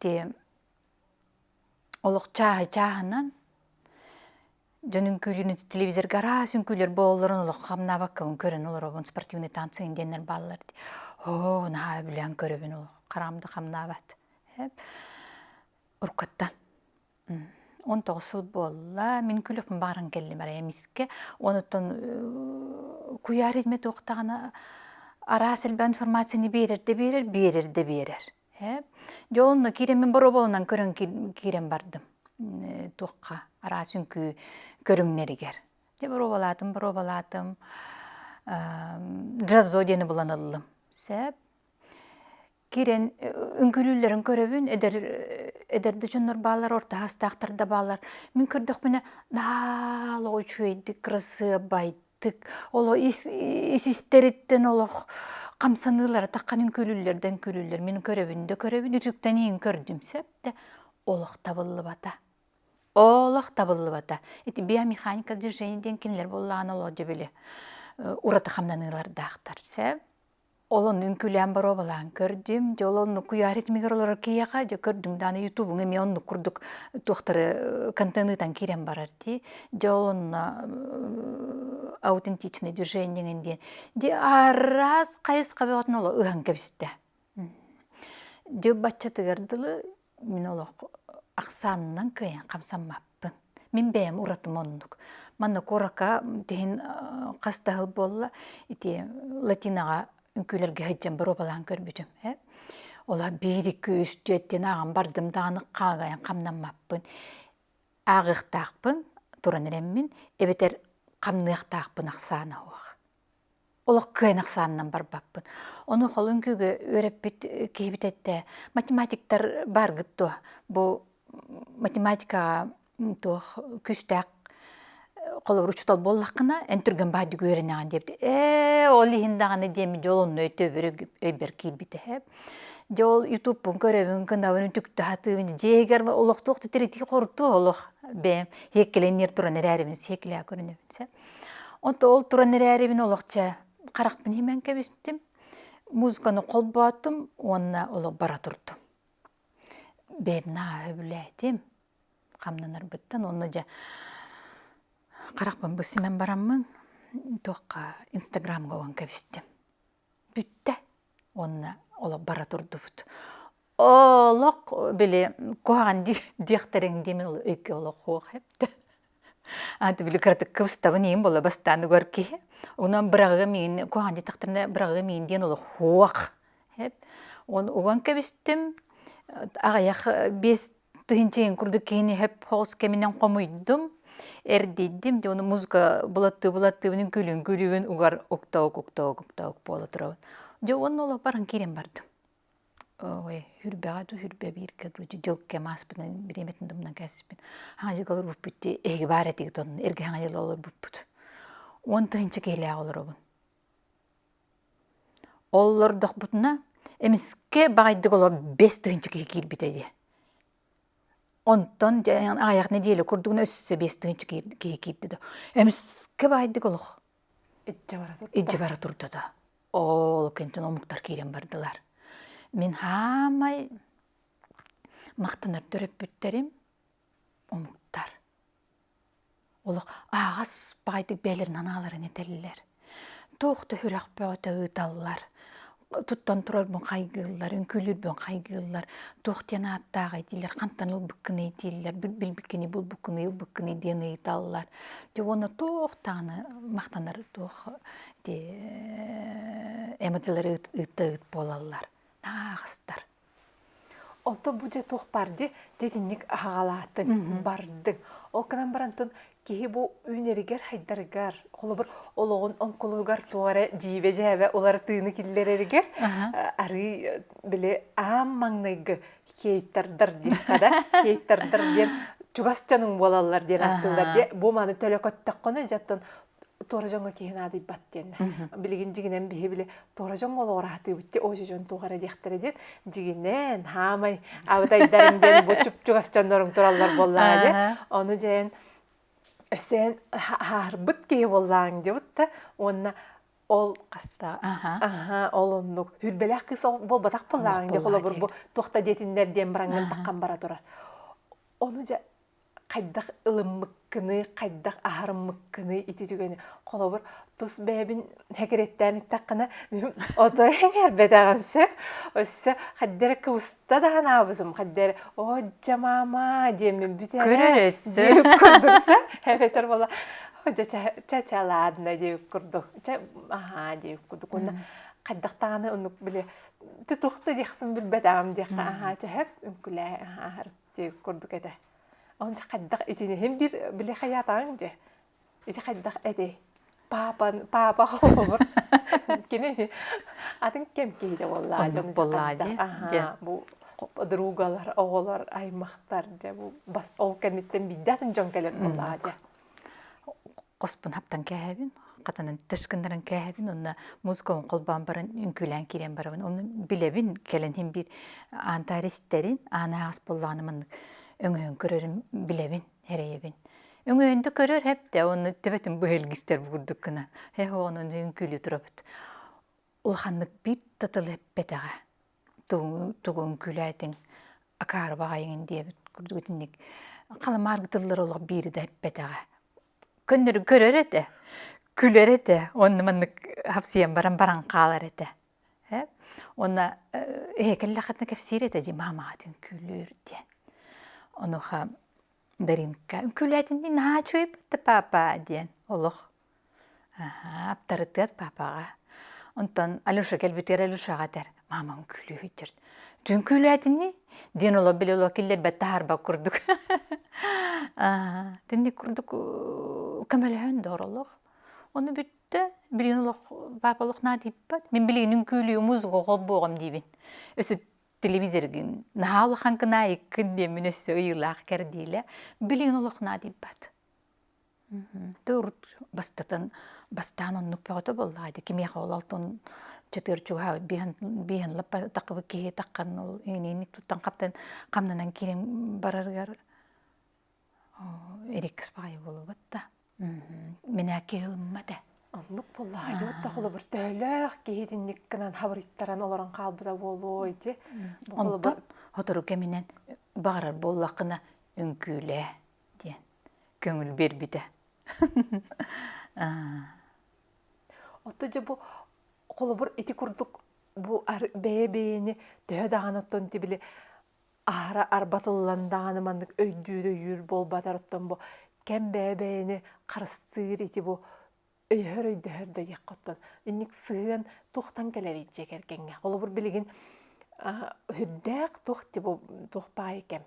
Ти олох чааһы чааһынан дьон үҥкүүрүн телевизорга араас үҥкүүлэр буолларын олох хамнаабаккабын көрөн олоробун спортивный танцы диэннэр бааллар дии оо наһаа үбүлээн көрөбүн олох хараам да хамнаабат уруккуттан он тоҕус сыл буолла мин клёппум бааран кэллим эрэ эмискэ онуттан куйаар идмэ туохтаҕына араас элбэх информацияны биэрэр да биэрэр биэрэр да биэрэр ээ дьэ онно киирэн мин боруобаланан көрөн киирэн бардым туохха араас үҥкүү көрүҥнэригэр дьэ боруобалаатым боруобалаатым джаззо диэни булан ыллым сөп кирен үҥкүлүүллэрин көрөбүн эдэр эдэр да дьоннор баалар ортаастаахтар да баалар мин көрдөхпүнэ даал үчүгэйдик кырасыабайтык оло ис истэриттэн олох хамсаныылара таххан үҥкүлүүллэрдэн күлүүллэр мин көрөбүн да көрөбүн үтүктэниин көрдүм сөп да олох табыллыбата олох табыллыбата ити биомеханика движения диэн кинилэр буоллаҕына олоодьо били ураты хамнаныылардаахтар сөп Олоннун күлээн боруобалаан көрдүм. Дьэ ол оннук куйаар итимигэр олорор киһиэхэ дьэ көрдүм даҕаны ютубуҥ эмиэ оннук курдук туохтары контенытан киирэн барар дии. Дьэ ол онно аутентичное движениеҥин диэн. Дьэ араас хайысха бөҕөтүн оло ыһан кэбистэ. Дьэ баччатыгар дылы Мин олох ахсаанынан кыайан хамсаммаппын. Мин бэйэм уратым оннук. Манна курака тиһин хас да сыл буолла ити латинаҕа үҥкүүлэргэ сылдьан боруобалаан көрбүтүм ээ. Ол аһа биир, iki, үс, түөрт диэн ааҕан бардым даҕаны хаагайан хамнаммаппын. Ааҕыахтаахпын туран эрэммин эбэтэр хамныахтаахпын ахсаана суох. олох кыайан ахсаанынан барбаппын. Ону холун күгү үөрэппит киһибит этэ, математиктар бааргыт дуо? Бу математикаҕа туох күүстээх холобур учуутал буоллаххына эн түргэн баһайдык үөрэнэҕин диэбит. Ээ ол иһин даҕаны диэм дьэ ол онно өйдөбүлү өйбөр киирбитэ эһэ. Дьэ ол ютубпун көрөбүн, кынабын үтүктэ сатыыбын. Дьиэһигэр олох туох да тиритии хоруттуур олох бэйэм сиэккилэниэр туран эрээрибин сиэкилээ көрөнөбүн сэ От ол туран эрээри мин олох чэ харахпын имэн кэбистим, музыканы холбоотум уонна олох бара турдум. Бэйэм наһаа өбүлээтим хамнанарбыттан уонна дьэ харахпын бу симэн бараммын туохха инстаграмга уган кэбистим. бүттэ уонна олох бара турдубут. Олох били куһаҕан диэхтэриҥ дии мин өйкө олох суох эбитэ. Аты били кыратыкка устабын иһин буола бастаан угар киһи. Онон быраҕыам иһин куһаҕан диэтэхтэринэ быраҕыам иһин диэн олох суох эб. Уон уган кэбистим. Аҕыйах биэс Тыһынчыйын курдук киһини хөп хоҕус кэминэн хомуйдум, эрдийдим дии, ону музыка былаттыы-былаттыыбын күлүн күлүүбүн угар уктаабык уктаабык уктаабык буола турабын. Дьэ уонна олоппорун киирэн бардым. Ой хүрбэҕэ дуу хүрбэ бииргэ дуу дьыл кэм ааспытынан бириэмэтин тумнан кээспиппин хаҥа дьылгалар буспут дии эһиги баар этигит онно эргэ хаҥа дьылга олорбуппут. Уон тыһынча киһилээх олоробун. Оллордохпутуна эмискэ баҕайытык олор бэс тыһыынча киһи киирбитэ дии. Онтон дьэ аҕыйах нэдиэлэ курдугуна өссө биэс тыһыынча киһи киирдэ да эмискэ баҕайытык олох илдьэ бара турда да ол кэнниттэн омуктар киирэн бардылар. Мин хаамай махтанар төрөппүттэрим омуктар Олох аагас баҕайытык бэйэлэрин анааларын этэллэр. Туох да үрэх бөҕөтө ыыталлар. Туттан турарбын хайгыыллар, үҥкүүлүүрбүн хайгыыллар. Туох диэн ааттааҕый диилэр, хантан ылбыккыный дииллэр, билбиккиний, булбуккунуй, ылбыккыный диэн ыйыталлар. Дьэ уонна туох даҕаны махтанар туох эмоджилары ыытта ыыт буолаллар. Аагастар. Ото бу дьэ туох баар ди дитинник аһаҕалаатыҥ, бардыҥ. Ол гынан баран тун киһи бу үүнэригэр хайдарыгар, холобур олоҕун оҥкулугар туох эрэ дьиибэ-дьээбэ уларытыыны киллэрэригэр арыый били аан маҥнайгы хейтердар диэххэ да хейтердар диэн чугас дьонуҥ буолаллар диэн ааттыыллар диэ бу маны төлө көттөххүнэ дьэ оттон туора дьоҥҥо киһи наадыйбат диэннэ. Билигин дьигинэн биһи-били туора дьоҥҥо олоҕор аһатыыбытчи, о дьон туохара диэхтэрэ диэн, дьигинэн, хаамай, абытайдарым диэн бу чупчугас дьоннорум тураллар буоллаҕа дьэ. Ону дьээн өссөөн хаарбыт киһи буоллаҕыҥ дьыбыт да уонна ол хаста аха ол оннук хүрбэлээх кыыс буолбатах буоллаҕыҥ дьэ холобур бу туохта диэтиннэр диэн бараҥҥын таххан бара турар ону дьэ хайдах ылыммыккыный, хайдах аһарыммыккыный ити түгэни. Холобур, тус бэйэбин сэкирэттээн эттэххинэ, мин отой эҥээрбэтэҕим сэ. Өссө хайда эрэ кыбыста да санаабытым, хайда эрэ «Одьа маама» диэммин бүтэрэ диир курдук сэ, эбэтэр буолла «Дьэ чэ ладно» диир курдук, чэ аһаа диир курдук уонна хайдах даҕаны оннук били ты туох да диэхпин билбэтэҕим диэххэ аһаа чэһэп үҥкүлээһи аһаарыттым. Ти курдук этэ. Онча хайдах итиниһин бир били хайаатаҕыҥ дии. Ити хайдах этэй? Паапан паапа холобур. Кини атын кем киһитэ буоллаа дьон буоллаа дии. Аха бу подругалар, оҕолор аймахтар дьэ бу бас ол кэнниттэн биирдэ атын дьон кэлэр буоллаа дии. хоспун хаптан кээһэбин хатанан тышкыннаран кээһэбин онно музыкабын холбоон баран үҥкүүлээн киирэн барабын ону билэбин кэлэн һин биир аантаары истэрин аан аас буоллаҕына маннык өҥөйөн көрөрүм билэбин эрэйэбин өҥөйөн да көрөр хэптэ ону төбөтүн быһылгистэр бугурдук гынан эһ онуну үҥкүүлүү турабыт улаханнык биир татылы эппэтэҕэ тугун күлээтиҥ акаары баҕайыҥын диэбит курдук итинник халамааргы тыллар олох биири да эппэтэҕэ көннөрү көрөр этэ күлэр этэ онно маннык хапсыйан баран баран хаалар этэ э уонна ээ кэллэххитинэ кэпсиир этэ дии маамаҕа диэн күлүүр диэн онуоха Даринка үҥкүүлээтин дии наһаа чуйбатта папа диэн олох аптарытыат папаҕа онтон алеша кэлбитигэр алешаҕа этэр маамаҥ күлүү сылдьар түҥ күлээтинии диэн олох били олох киллэрбэт таһаарбат курдук итинник курдук көмөлөһөн да оролох ону бүттэ билигин олох папа олох наадыйбат мин билигин үҥкүүлүү музыка холбоҕум диибин өссө телевизоргын наһаа улахан гына айыккын диэммин өссө ыйыылаах кэрдиилэ билигин олох наадыйбат Ты урут бастатан бастаан оннук бөҕөтө буоллаҕа дии кимиэхэ ол алтын чытыыр чугаһа бииһин лаппа такыбыт киһи таххан ол иниини туттан хаптан хамнанан киирин барарыгар ириккис баҕайы буолубат да минээки ылыммат ээ оннук буоллаҕа дии отто холобур төһөлөөх киһи итинник гынан хабырыйтаран олорон хаалбыта буолуо ити онтон сотору кэминэн баҕарар буоллаххына үҥкүүлээ диэн көҥүл биэрбитэ оттон дьэ бу холобур ити курдук бу бэйэ-бэйэни төһө даҕаны оттон ити били аһара арбатыллан даҕаны маннык өйдүүр өйүүр буолбатар оттон бу кэм бэйэ-бэйэни харыстыыр ити бу өйөһөр өйдөһөр да диэххиттэн инник сыһыан туохтан кэлэрий дьиэ кэргэҥҥэ холобур билигин үрдээх туох туох паайы кэм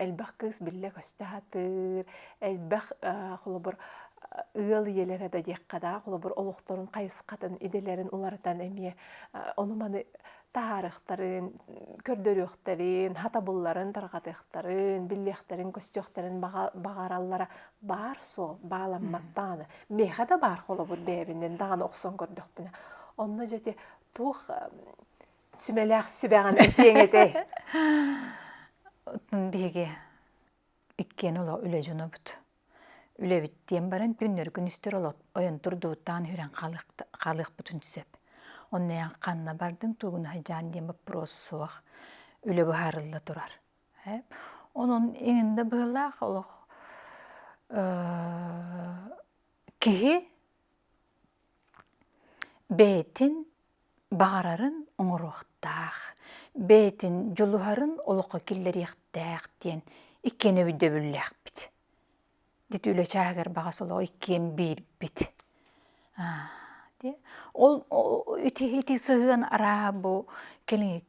элбэх кыыс биллэ көстө сатыыр элбэх холобур ыал ийэлэрэ да диэххэ да холобур олохторун хайысхатын идэлэрин уларытан эмиэ ону маны таһаарыхтарын, көрдөрүөхтэрин, хатабылларын тарҕатыахтарын, биллиэхтэрин, көстүөхтэрин баҕараллара баар суол, бааламматтаҕына. Миэхэ да баар холобур бэйэбинэн даҕаны охсон көрдөхпүнэ. Онно дьэ туох сүмэлээх сүбэҕин этиэҥ этэй? Биһиги иккиэн оло үлэ дьонобут. Үлэбит диэн баран күннэри күнүстөр оло ойон турдубуттаан хүрэн хаалыахпытын сөп. Онно ян ханна бардың тугун хайдьаан диэн боппуруос суох үлэ быһаарылла турар. Онон иҥинде быһылаах олох киһи бэйэтин баҕарарын оҥоруохтаах, бэйэтин дьулуһарын олоххо киллэриэхтээх диэн иккиэн өйдөбүллээхпит. Дити үлэ чааһыгар баҕа солоҕу иккиэн биирбит. Ол ити ити сыһыан арааһа бу кэлиҥҥи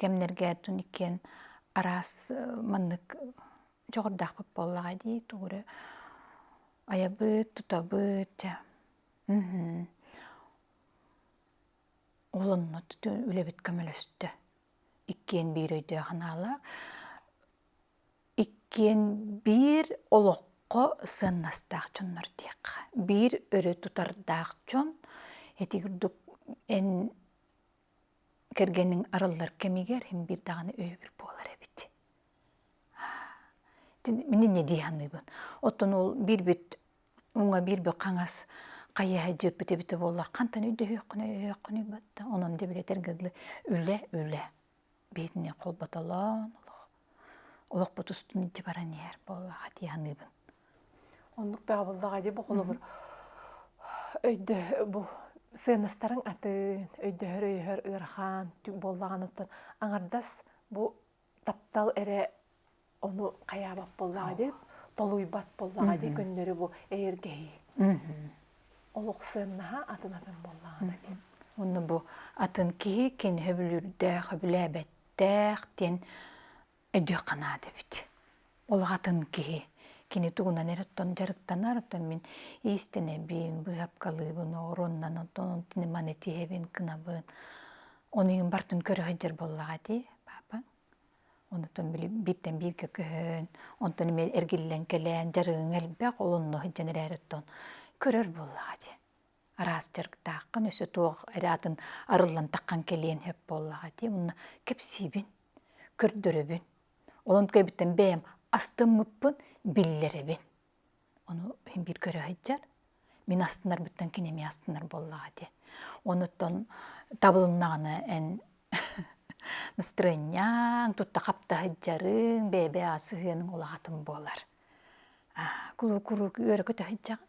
кэмнэргээттун иккиэн араас маннык дьоҕурдаахпыт буоллаҕа дии, тугу эрэ айабыт, тутабыт, чэ Ол онно үлэбит көмөлөстө. Иккиэн биир өйдөөх анаала. Иккиэн биир олоххо сыаннастаах дьоннор диэххэ. Биир өрө тутардаах дьон. Ити курдук эн кэргэниҥ арыллар кэмигэр эн биир даҕаны өйөбүл буолар эбит. Мин инньэ дии саныыбын. Оттон ол биирбит уҥа биир бүк хаҥас хайыһа дьыыппыт эбитэ буоллар хантан өйдөһүөххүнүй-өйдөһүөххүнүй батта онон дьэбилэтэр гыылы үлэ үлэ биһитини холботолоон олох олохпут устун илдьэ баран иһэр буоллаҕа дии саныыбын оннук баабыллаҕа дии бу холобур өйдө бу сыанастарың атын өйдөһөр өйөһөр ыарахан түк буоллаҕан оттон аҥардас бу таптал эрэ ону хайаабат буоллаҕа дии толуйбат буоллаҕа дии көннөрү бу эйэргэһии олох сыаннаһа атын атын буоллаҕа да дии онно бу атын киһи кини сөбүлүүрдээх сөбүлээбэттээх диэн өйдүөх канаат эбит ол атын киһи кини тугунан эрэ оттон дьарыктанар оттон мин иистэнэбин быыһапкалыыбын оруоннан оттон онтон маны тиһэбин кынабын ону иһин бартын көрө сылдьар буоллаҕа дии папа онтон били бииртэн бииргэ көһөн онтон эмиэ эргиллэн кэлээн дьарыгың элбэх ол онно сылдьан эрээри оттон көрөр буоллаҕа дии араас дьарыктааххын өссө туох эрэ атын арыллан таххан кэлиэн сөп буоллаҕа дии уонна кэпсиибин көрдөрөбүн Онон көйбүттэн бэйэм астыммыппын биллэрэбин. Ону иһин биир көрө сылдьар. Мин астынарбыттан кини эмиэ астынар буоллаҕа дии. Онуттан табылыннаҕына эн настроениеҥ тутта-хапта сылдьарыҥ, бэйэ-бэйэ ас сыһыаныҥ улаатан буолар. Куруук-куруук үөрэ көтө сылдьаҕын.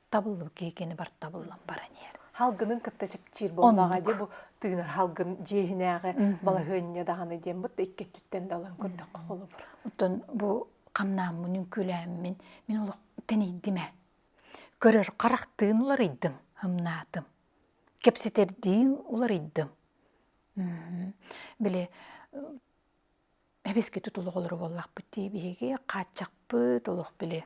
табыллыбыт киһикэни бар табыллан баран иһэр халгынын кытта чэпчиир буолбаҕа дии бу тыынар халгын дьиэһинээҕи балаһыанньа даҕаны диэн бут икки өттүттэн далан көрдөххө холобур оттон бу хамнааммын үҥкүүлээммин мин олох тэнийдим ээ көрөр харахтыын уларыйдым ымнаатым кэпсэтэрдиин уларыйдым били эбискити тулоҕолору буоллахпыт дии биһиги хааччахпыт олох били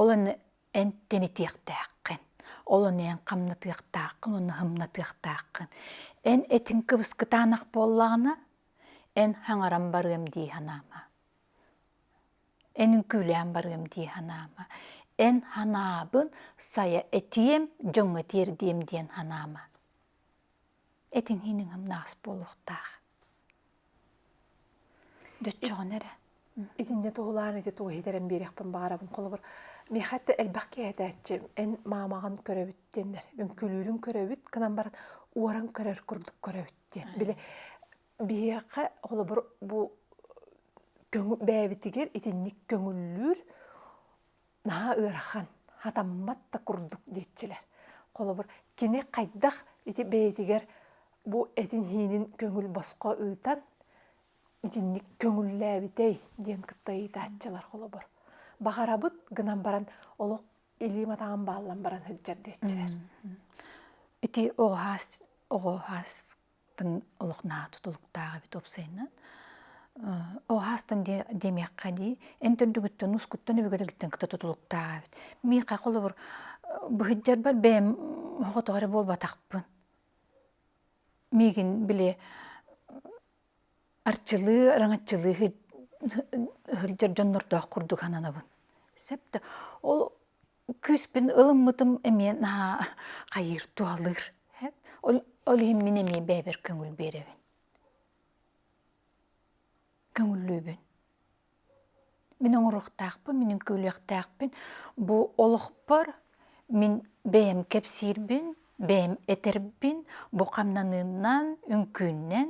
Ол аны эн тэнитиэхтээххин, ол аны эн хамнатыахтааххын уонна хымнатыахтааххын. Эн этиҥ кыбыскытаанах буоллаҕына, эн хаҥаран барыам дии санаама. Эн үҥкүүлээн барыам дии санаама. Эн санаабын сайа этиэм, дьоҥҥо тиэрдиэм диэн санаама. этиҥ иһин ыҥамнаас буолуохтаах дьоччоҕун эрэ итиннэ туһулаар ити тугу иһитэрэн биэриэхпин баҕарабын холобур миэхэ этэ элбэх киһи этээччи эн маамаҕын көрөбүт диэннэр үҥкүлүүрүн көрөбүт гынан баран уоран көрөр курдук көрөбүт диэн били биһиэхэ холобур бу бэйэбитигэр итинник көҥүллүүр наһаа ыарахан хатаммат да курдук диэччилэр холобур кини хайдах ити бэйэтигэр бу этин иһиинин көҥүл босхо ыытан итинник көҥүллээбитэй диэн кытта ыйытааччылар холобур баҕарабыт гынан баран олох илиим атаҕым бааллан баран сылдьар диэччилэр ити оҕуһаас оҕуһаас тын олох наһаа тутулуктаах эбит уопсайынан оһаастан демиэххэ дии эн төрдүгүттэн ускуттан үбүгэрэгиттэн кыта тутулуктаах эбит миэхэ холобур быһыддьарбар бэйэм хоҕотоҕо эрэ буолбатахпын миигин били арчылыы араҥаччылыы сылдьар дьоннордоох курдук сананабын сэп да ол Күүспүн ылыммытым эмиэ наһаа хайыыр туһалыыр. Ол иһин мин эмиэ бэйэбэр көҥүл биэрэбин. Көҥүллүүбүн. Мин оҥоруохтаахпын, мин үҥкүүлүөхтээхпин. Бу олохпор мин бэйэм кэпсиирбин, бэйэм этэрбин бу хамнаныынан, үҥкүүннэн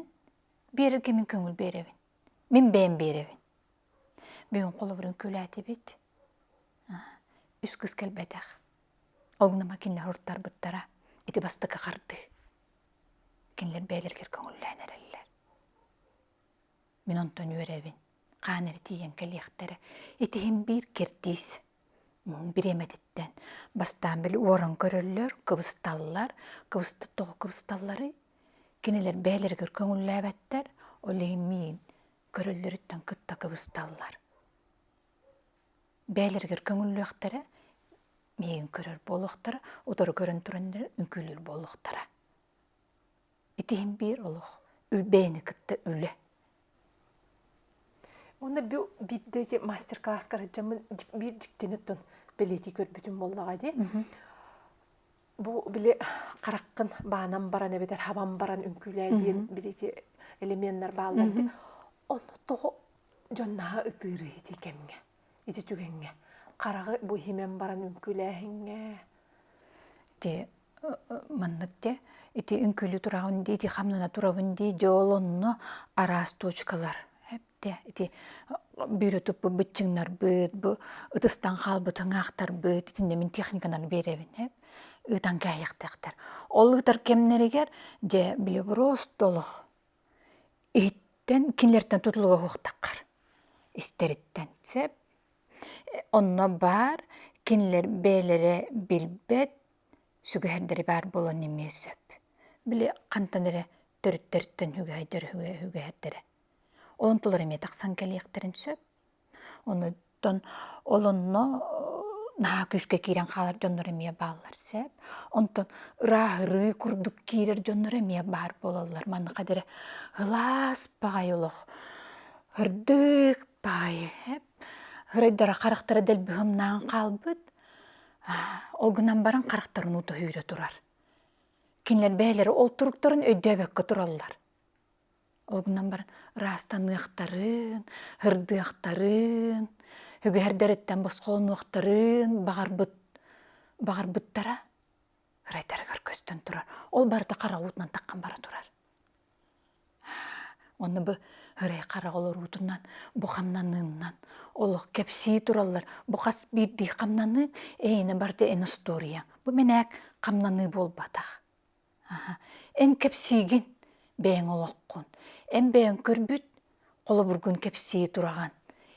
биэрэргэ мин көҥүл биэрэбин. Мин бэйэм биэрэбин. Бүгүн холобурун күлээтибит. Үс кыс кэлбэтэх. Ол гынан кинилэр ортарбыттара. Ити бастакы харды. Кинилэр бэйэлэригэр көҥүллээн эрэллэр. Мин онтон үөрэбин. Хаан эрэ тиийэн кэлиэхтэрэ. Итиһин биир киртиис бириэмэтиттэн бастаан били уоран көрөллөр, кыбысталлар. Кыбыстыт тоҕо кыбысталларый? Кинилэр бэйэлэригэр көҥүллээбэттэр. Ол иһин миин көрөллөрүттэн кытта кыбысталлар. Бээлэригэр көҥүллүөхтэрэ, миигин көрөр буолуохтара, утары көрөн туран үҥкүүлүүр буолуохтара. Ити иһин биир олох бэйэни кытта үлэ. Онно бу бидде мастер-класс караджамын биир дьиктини тун билети көрбүтүм болнаға ди. Бу били хараххын баанан баран эбэтэр хабан баран үҥкүүлээ диэн били ити элеменнэр бааллар дии. Ону тоҕо дьоннаһа ытыырый ити кэмҥэ, ити түгэҥҥэ? Хараҕы бу иһимэн баран үҥкүүлээһиҥҥэ. Дьэ, маннык дэ ити үҥкүүлүү тураҕын дии, ити хамнана турабын дии, дьэ ол онно араас точкалар Те ити бүөрү туппуппут чыҥнарбыт, бу ытыстан хаалбыт ыҥаахтарбыт итиннэ мин техниканан биэрэбин эп ыытан кээһиэхтэхтэр. Ол ыытар кэмнэригэр дьэ билеброз толох иһиттэн кинилэртэн тутулуга уһуктаххар истэриттэн сеп онно баар кинилэр бэйэлэрэ билбэт сүгэһэрдэри баар буолан эмиэ сөп. Били хантан эрэ төрүттэртэн үгэһэйдэр үгэһэрдэрэ. Оон тулар эмиэ тахсан кэлиэхтэрин сөп. Онуттан ол онно наһаа күүскэ киирэн хаалар дьоннор эмиэ бааллар сөп. Онтон ырааһырыы курдук киирэр дьоннор эмиэ баар буолаллар. Маныаха диэри ылаас баҕайы олох ырдык баҕайы эп ырайдара харахтара дэлби humнаан хаалбыт. Ол гынан баран харахтарын уута үүрэ турар. Кинилэр бэйэлэрэ ол туруктарын өйдөөбөккө тураллар. Ол гынан бар ыраастаныахтарын, һырдыахтарын, үгэһэрдэриттэн босхолонуохтарын баҕарбыт баҕарбыттара ырайтарыгар көстөн турар. Ол барыта хараҕуутунан таххан бара турар. Онно бу ырай хараҕ олоруутунан, бу хамнаныыннан олох кэпсии тураллар. Бу хас биирдии хамнаныы эйинэ барыта эн остуоруйа. Бу мэнээк хамнаныы буолбатах. Эн кэпсиигин бэйэҥ олоххун. Эн бэйэҥ көрбүт, холобургун кэпсии тураҕын.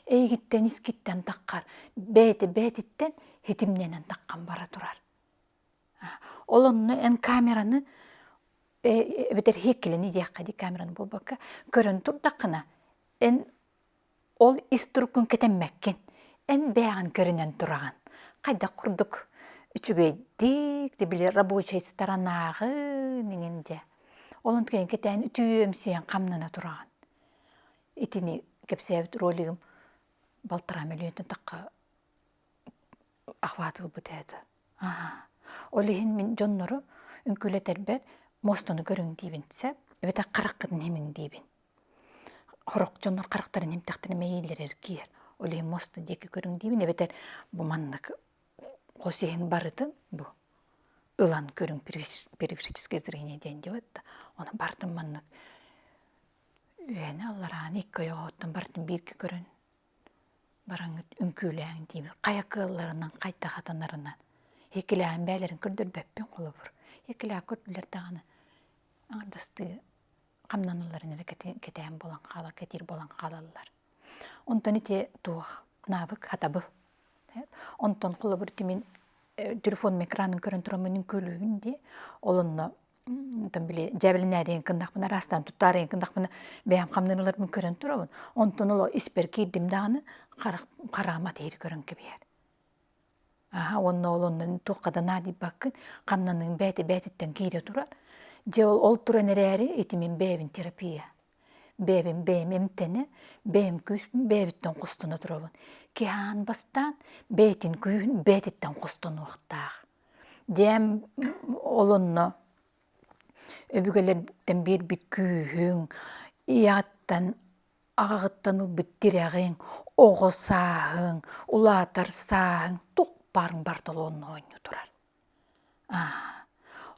Эйигиттэн искиттэн таххар бэйэтэ бэйэтиттэн ситимнэнэн таххан бара турар. Ол онно эн камераны эбэтэр сиэккилэни диэххэ дии камераны буолбакка көрөн турдаххына эн Ол ис туруккун кэтэммэккин. Эн бэйэҕин көрүнэн тураҕын. Хайдах курдук үчүгэйдик били рабочай сторонааҕын иҥин дьэ. Ол онтукээн кэтээн үтүөмсүйэн хамнана тураҕын. Итини кэпсээбит ролигым балтараа мөлүйүөнтэн тахха ахвааты ылбыт этэ. Ол иһин мин дьоннору үҥкүүлэтэрбэр муостану көрүҥ диибин сөп эбэтэр хараххытын имиҥ диибин. хорохчоннор харахтарын имтэхтэрэ мэйиилэрэр киэр оле моста диэки көрүҥ диибин эбэтэр бу маннык хос иһин барытын бу ылан көрүҥ периферическое зрение диэн диэбитта оны бартым маннык үөнэ алларааны икки ойоҕоттон бартын бииргэ көрөн бараҥҥыт үҥкүүлээҥ диибин хайа кыалларынан хайда хатанарынан икилээн бээлэрин көрдөрбөппүн холобур икилаа көрдүлэр даҕаны аҥардастыы хамнанылларын эрэ кэтээн булан хаала кэтиир болан хаалаллар. Онтон ити туох навык хатабыл. Онтон холобур тимин телефон микранын көрөн турамынын көлөһүн ди олонно там били дьэбилинээриен кындахпына астан туттаарыен кындахпына бэйэм хамнанылармын көрөн турабын онтон оло испер киирдим дааны харам караама тиһири көрөн кэбиһэр аха уонна ол оннун туххатанаа дииппаккын хамнаныын бээти бээтиттэн киирэ турар дьэ ол ол туран эрээри ити мин бэйэбин терапия бэйэбин бэйэм эмтэнэ бэйэм күүспүн бэйэбиттэн хостоно турабын киһаан бастаан бэйэтин күүһүн бэйэтиттэн хостонуохтаах дьээм ол онно өбүгэлэртэн биэрбит күүһүҥ ийэҕиттэн аҕаҕыттан ылбыт тирэҕиҥ, оҕо сааһыҥ, улаатар сааһыҥ туохпаарыҥ бартолонно оонньуу турар.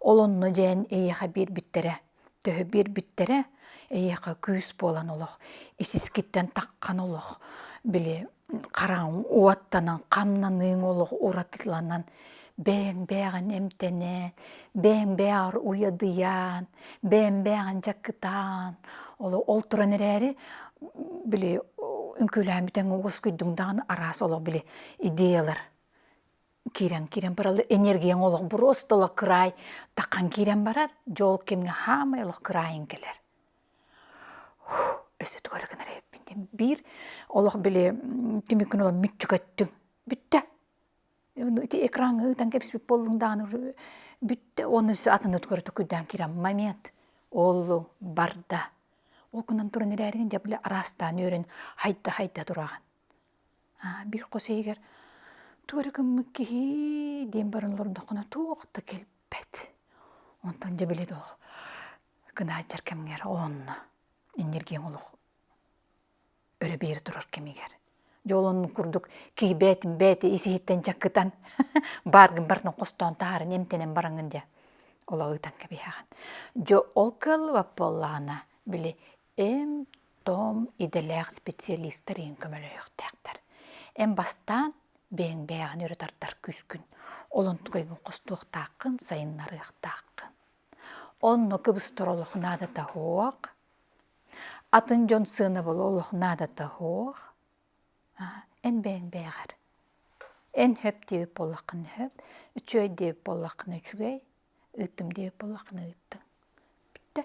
Ол онно дьээн эйиэхэ биэрбиттэрэ, төһө биэрбиттэрэ, эйиэхэ күүс буолан олох, исискиттэн таххан олох, били хараҥ уоттанан хамнаныыҥ олох уратыланан бэйэҥ-бэйэҕин эмтэнэн, бэйэҥ-бэйэҕэр уйадыйан, бэйэҥ-бэйэҕин дьакытаан олох ол туран эрээри били үҥкүүлээн бүтэҥ уоскуйдуҥ даҕаны араас олох били идеялар киирэн-киирэн бараллар энергияҥ олох буруостала кыраай таххан киирэн барар дьол кэмҥэ хаамай олох кыраайын кэлэр өссө тугары гынар эбиппин диэн биир олох били түмүккүн ылан мүччүкөттүҥ бүттэ ити экраҥҥа ыытан кэбиспит буоллуҥ даҕаны бүттэ уонна өссө атыны тугары тукуйдаан киирэн момент ооллуҥ барда ол гынан туран эрээригин дьэ били араастаан үөрэн хайда хайда тураҕын Биир хос иһигэр тугу эрэ гыммыт киһи диэн баран олордоххуна туох да кэлбэт. Онтон дьэ били доо гынааччар кэмҥэр оонно энергияҥ олох өрө биэрэ турар кэмигэр. Дьэ ол оннун курдук киһи бээтин бээтэ ис иһиттэн чаккытан баар гын барытын хостоон таһааран эмтэнэн бараҥҥын дии. Ол ыытан кэбиһэҕин. Дьэ ол кыаллыбат буоллаҕына били Эм-том идэлээх специалистар иһин көмөлөһүөхтээхтэр. Эн бастаан бэйэҥ-бэйэҕин өрө тардар күскүн, олонтугайгын хостуохтааххын, сайыннарыахтааххын. Онно кыбыстар олох наадата суох. Атын дьон сыанабыла олох наадата суох. Эн бэйэҥ-бэйэҕэр. Эн сөп диэбит буоллаххына сөп, үчүгэй диэбит буоллаххына үчүгэй. ыыттым диэ буоллаххына ыыттыҥ бүттэ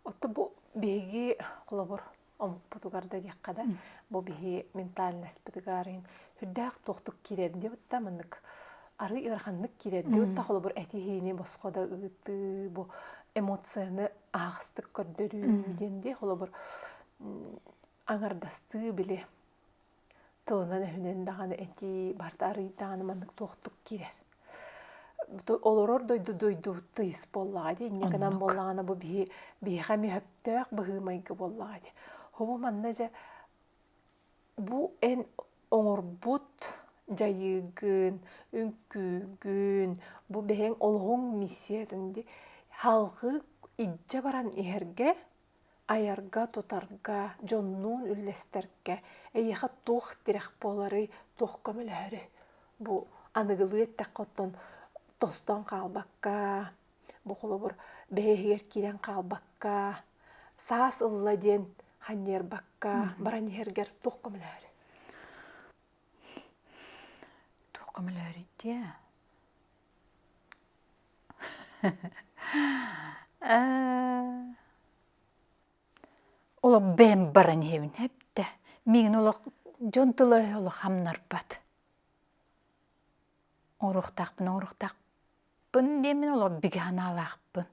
отто бу биһиги холобур омукпутугар да диэххэ да бу биһи ментальноспытыгаарыйын үрдээх туохтук киирэр диэ бутта маннык арый ыараханнык киирэр диэ бутта холобур эти-иһини босхо да ыытыы бу эмоцияны аахастык көрдөрүү диэн дии холобур аҥардастыы били тылынан өһүнэн даҕаны этии барта арыйдааны маннык туохтук киирэр олорор дойду дойду тыйыс буоллаҕа дии инньэ гынан буоллаҕына бу биһи биһиэхэ мөһөптөөх быһыы-майгы буоллаҕа дии һубу манна дьэ бу эн оҥорбут дьайыыгын үҥкүүгүн бу бэйэҥ олоҕуҥ миссиятын дии салҕыы илдьэ баран иһэргэ айарга-тутарга, дьоннуун үллэстэргэ эйиэхэ туох тирэх буоларый, туох көмөлөһөрүй? Бу аныгылыы эттэххэ оттон тостон хаалбакка, бу холобур бэһиэһигэр киирэн хаалбакка, саас ылла диэн ханньыарбакка баран иһэргэр туох көмөлөһөрүй? Туох көмөлөһөрүй дии? Олох бэйэм баран иһэбин эбдэ миигин олох дьон тыла улахамнарбат оруохтаахпын оруохтаахпын диэмин олох бигэ санаалаахпын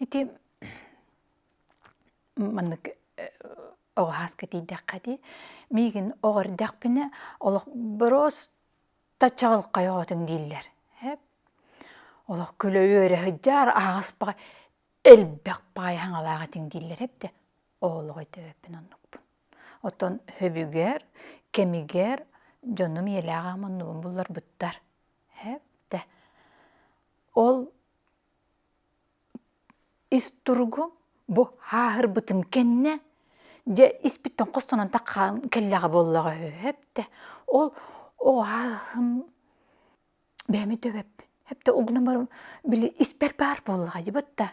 ити маннык оҕо сааска тиийдэххэ дии миигин оҕо эрдэхпинэ олох бороос таччаҕын хайоҕотуҥ дииллэр ээ олох күлэ үөрэ сылдьаар аһаҕас баҕа элбэх баҕайы хаҥалаах этиҥ дииллэр эбдэ оҕолоҕой төбөппүн оннукпун оттон сөбүгэр кэмигэр дьонум ийэлээҕи ама оннубун булларбыттар ээ эрдэ ол ис туругу бу һааһырбытым кэннэ дьэ испиттэн хостонон такаан кэллэҕэ буоллаҕа үһү эптэ ол оо һааһым бэйэми төбөппүн эптэ угунан баран били испэр баар буоллаҕа дьыбыт да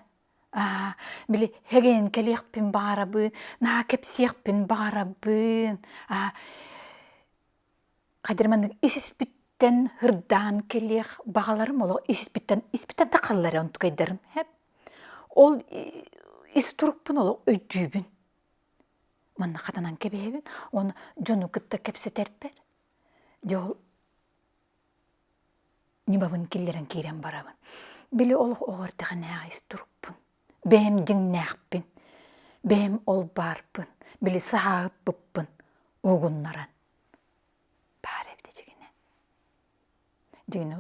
аа били һэгэйэн кэлиэхпин баҕарабын наһаа кэпсиэхпин баҕарабын аа Кадыр маннык ис-испиттэн һырдаан кэлиэх баҕаларым олох ис-испиттэн испиттэн тахаллар онтукайдарым хэп. Ол ис турукпун олох өйдүүбүн. Манна хатанан кэбиһэбин, уонна дьону кытта кэпсэтэрбэр. Дьэ ол ньымабын киллэрэн киирэн барабын. Били олох оҕо эрдэҕинээҕи ис турукпун. Бэйэм дьиҥнээхпин, бэйэм ол баарпын, били саһаабыппын угуннаран баар эбит дьиҥинэн. Дьиҥинэ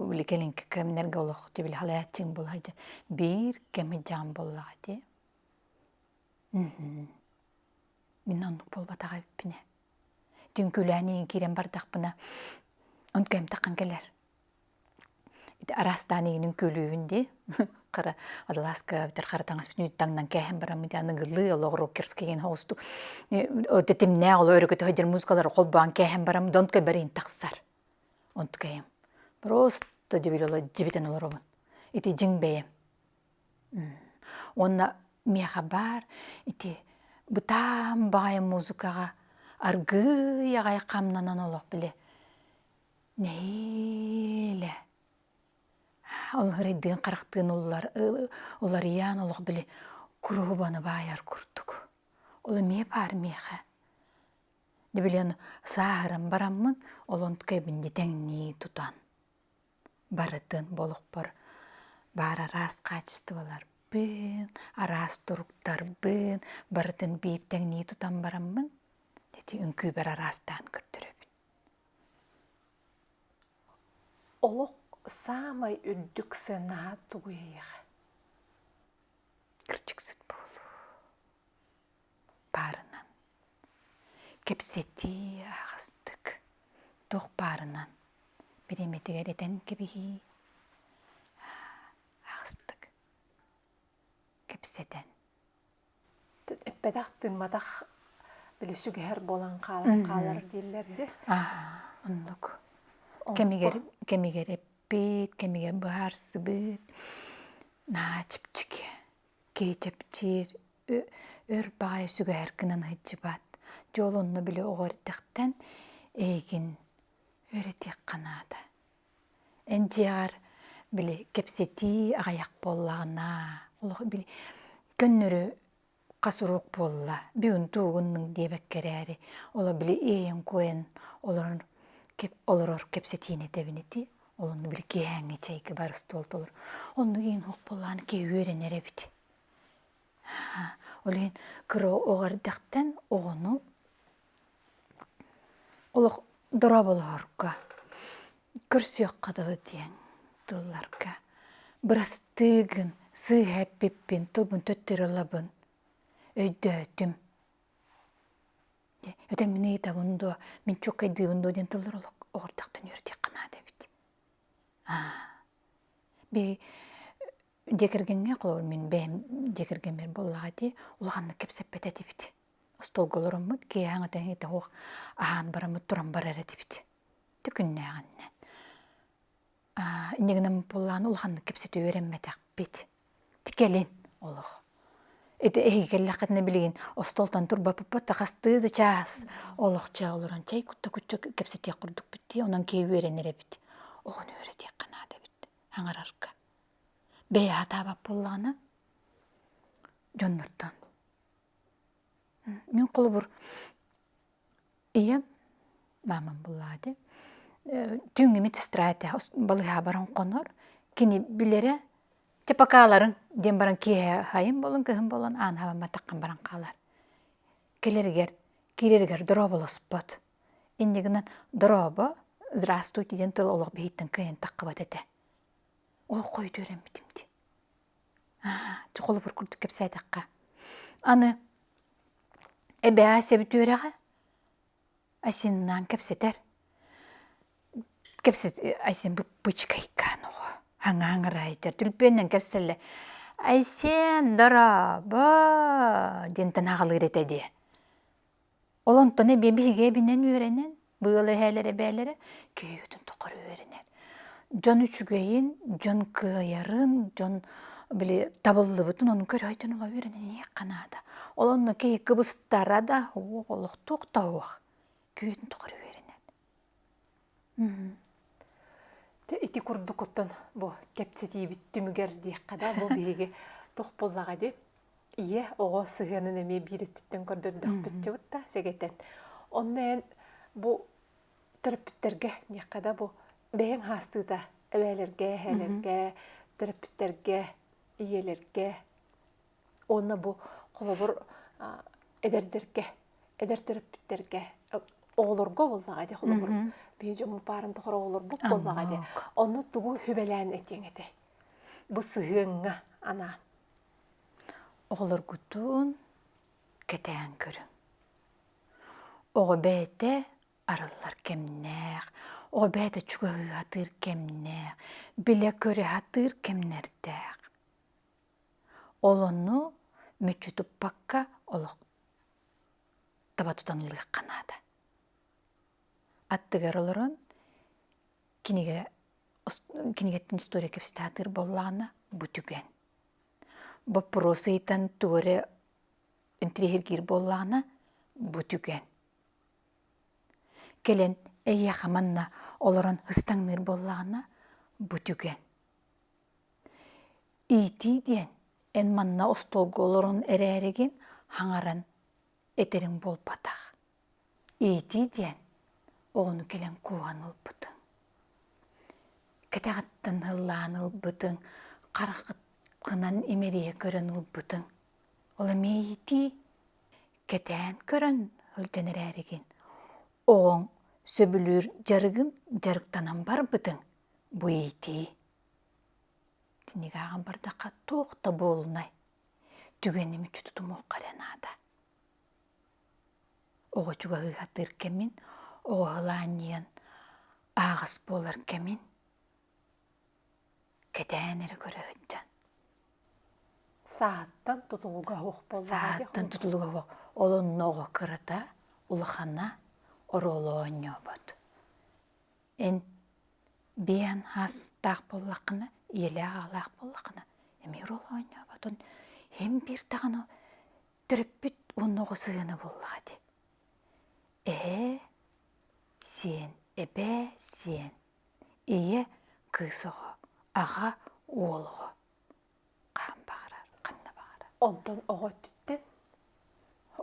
били кэлин кэмнэргэ олоххут били халааччыҥ буолуо сылдьар биир кэми дьаам буоллаҕа дии. Мин оннук буолбатах эбиппин ээ. Дьиҥ күлээн иһэн киирэн бардахпына онтукэм таххан кэлэр. Ити араастаан игинин күөлүүһүн дии хара Адалааска бүтэр харатаҥас бүтүн таҥнан кээһэн бараммын итиэннэ ныгылыы олох рокерскийин хоосту тэтимнээх олох өрүкүтэ сылдьар музыкалары холбоон кээһэн барам донтко бэрин тахсар онтукэйим просто дебилола дибитэн олоробун ити дьиҥ бэйэм уонна миэхэ баар ити бытаан баҕайы музыкаҕа аргыый аҕай хамнанан олох били Нэһиилэ ол ырыйдыын харахтыын уларыйаан олох били куруһубаны баайар курдук. Ол эмиэ баар миэхэ. Дьэ билигин сааһыран бараммын ол онтукайбын дьэ тэҥнии тутан барытын бу олохпор баар араас хаачыстыбаларбын, араас туруктарбын барытын биир тэҥнии тутан бараммын ити үҥкүүбэр араастаан көрдөрөбүн. Олох саамай үрдүк сыанаһа тугу эйиэхэ? Кырдьыксыт буолуу. Баарынан. Кэпсэтии аһастык. Туох баарынан. Бириэмэтигэр этэн кэбиһии. Аһастык. Кэпсэтэн. эппэтэх тыымматах били сүгэһэр буолан хаалар дииллэр дии оннук кэмигэр кэмигэр эппит кэмигэр быһаарсыбыт наһаа чэпчэки кэчэпчир өр баҕайы сүгэһэр гынан ыһыдьыбат дьол онно били оҕо эрдэхтэн эйигин өр этиэххэ наада Эн дьиэҕэр били кэпсэтии аҕыйах буоллаҕына, олох били көннөрү хас уруок буолла, бүгүн туугуннуҥ диэбэккэ эрээри, олох били иэйэн-куойан олорон олорор кэпсэтиини этэбин ити. Ол онно били киэһээҥҥи чэйгэ бар остуол толору. Оннук иһин оһох буоллаҕына киһи үөрэнэр эбит. Ол иһин кыра оҕо эрдэхтэн оҕону олох дорооболоһорго, көрсүөххэ дылы диэн тылларга бырастыыгын, сыыһа эппиппин, тылбын төттөрү ылабын, өйдөөтүм. Ити мин ыйытабын дуо, мин чууккайдыыбын дуо диэн тыллар олох оҕо эрдэхтэн үөрдүөххэ наада эбит. Аа, би Дьэ кэргэҥҥэ холобур мин бэйэм дьэ кэргэммэр буоллаҕа дии улаханнык кэпсэппэт этибит. Остуолга олороммут киэһэ этэҥҥэ итэҕуох аһаан бараммыт туран барар этибит. Ити күннээҕиннэн. Аа инньэ гынан буоллаҕына улаханнык кэпсэтии үөрэммэтэхпит. Ити кэлин олох. Ити эһиги кэллэххитинэ билигин остуолтан турбаппыппыт да хастыы да чаас олохчо олорон чэй кутта куччу кэпсэтиэх курдукпут дии онон киһи үөрэнэр эбит. Оҕону үөрэтиэххэ наада эбит хаҥарарга. бэйэ сатаабат буоллаҕына дьоннортон мин холобур ийэм маамам буллаати түүҥҥү медсестра этэ балыыһаҕа баран хонор кини билэрэ чэ покаларын диэн баран киэһэ хайын буолан кыһын буолан аан хабан баттаххан баран хаалар кэлэригэр киирэригэр дорооболоспот иннигинэн дорообо здравствуйте диэн тыл олох биһиттэн кыайан таххыбат этэ Олоххойду өрөммүтүм дии. Дьэ холобур курдук кэпсээтэххэ, аны эбээ Ася Бүтүөрэҕэ Асиннаан кэпсэтэр. Кэпсэт Ася бычкайкаан оҕо хаҥаа хаҥыраайытар түлпүөннэн кэпсэллэр. Айсен, дорообо диэн танаҕалыыр этэ дии. Ол онтон эбиэ биһиги эбинэн үөрэнэн, быал эһээлэр эбээлэрэ киһибитин тухары үөрэнэр. Дьон үчүгэйин, дьон кыайарын, дьон били табыллыбытын ону көрөй дьон ула үөрэнэн ийэх наада. Ол онно киһи кыбыстара да, уох олохтуох да уох, киһитин тухары үөрэнэр. Дьэ ити курдукуттан бу кэпсэтиибит түмүгэр диэххэ да бу биһиги туох буоллаҕа дии ийэ оҕо сыһыанын эмиэ биир өттүттэн көрдөрдөхпүтчү да сэгэтэн онно эн бу төрөппүттэргэ диэххэ да бу бэйэҥ хаастыыта эбээлэргэ эһээлэргэ төрөппүттэргэ ийэлэргэ уонна бу холобур эдэрдэргэ эдэр төрөппүттэргэ оҕолорго буоллаҕа ди холобур биһи дьоммут баарын тухары оҕолорбут буоллаҕа ди онно тугу хүбэлээн этиэҥ этэй бу сыһыаҥҥа анаан оҕолоргутун кэтээн көрүҥ оҕо бэйэтэ арыллар кэмнээх оҕо бэйэтэ чугаһыы сатыыр кэмнээх билэ көрө сатыыр кэмнэрдээх Ол онну мүччү туппакка олох таба тутан ылыахха наада. Аттыгар олорон кинигэ кинигеттэн история кэпсэтэ сатыыр буоллаҕына бу түгэн. Боппуруос ыйтан тугу интриһиргиир буоллаҕына бу түгэн. Кэлэн эйиэхэ манна олорон ыстаҥныыр буоллаҕына бу түгэн. иитии диэн эн манна остуолга олорон эрээригин хаҥаран этэрим буолбатах иитии диэн оҕону кэлэн кууһан ылбытыҥ кэтэҕиттэн ыллаан ылбытыҥ хараххыт гынан имэрийэ көрөн ылбытыҥ ол эмиэ иитии кэтээн көрөн сылдьан эрээригин оҕоҥ сөбүлүүр дьарыгын дьарыктанан барбытыҥ бу иитии Кинигэ ааҕан бардахха туох да буолунай, түгэни мүччү тутумуохха эрэ наада. Оҕо чугаһыыһатыыр кэмин, оҕо ылаанньыйан ааҕыс буолар кэмин кэтээн эрэ көрө сылдьан. Сааттан тутулуга суох буоллаҕа Сааттан тутулуга суох. Ол онно оҕо кырата, улахана, оруолу оонньообот. эн бэйэн аастаах буоллаххына ийэлээх аҕалаах буоллаххына эмиэ роль оонньооботун эн биир даҕаны төрөппүт уонна оҕо сыһыана буоллаҕа ди ээ сиэн эбээ сиэн ийэ кыыс оҕо аҕа уол оҕо хаһан баҕарар ханна баҕарар онтон оҕо өттүттэн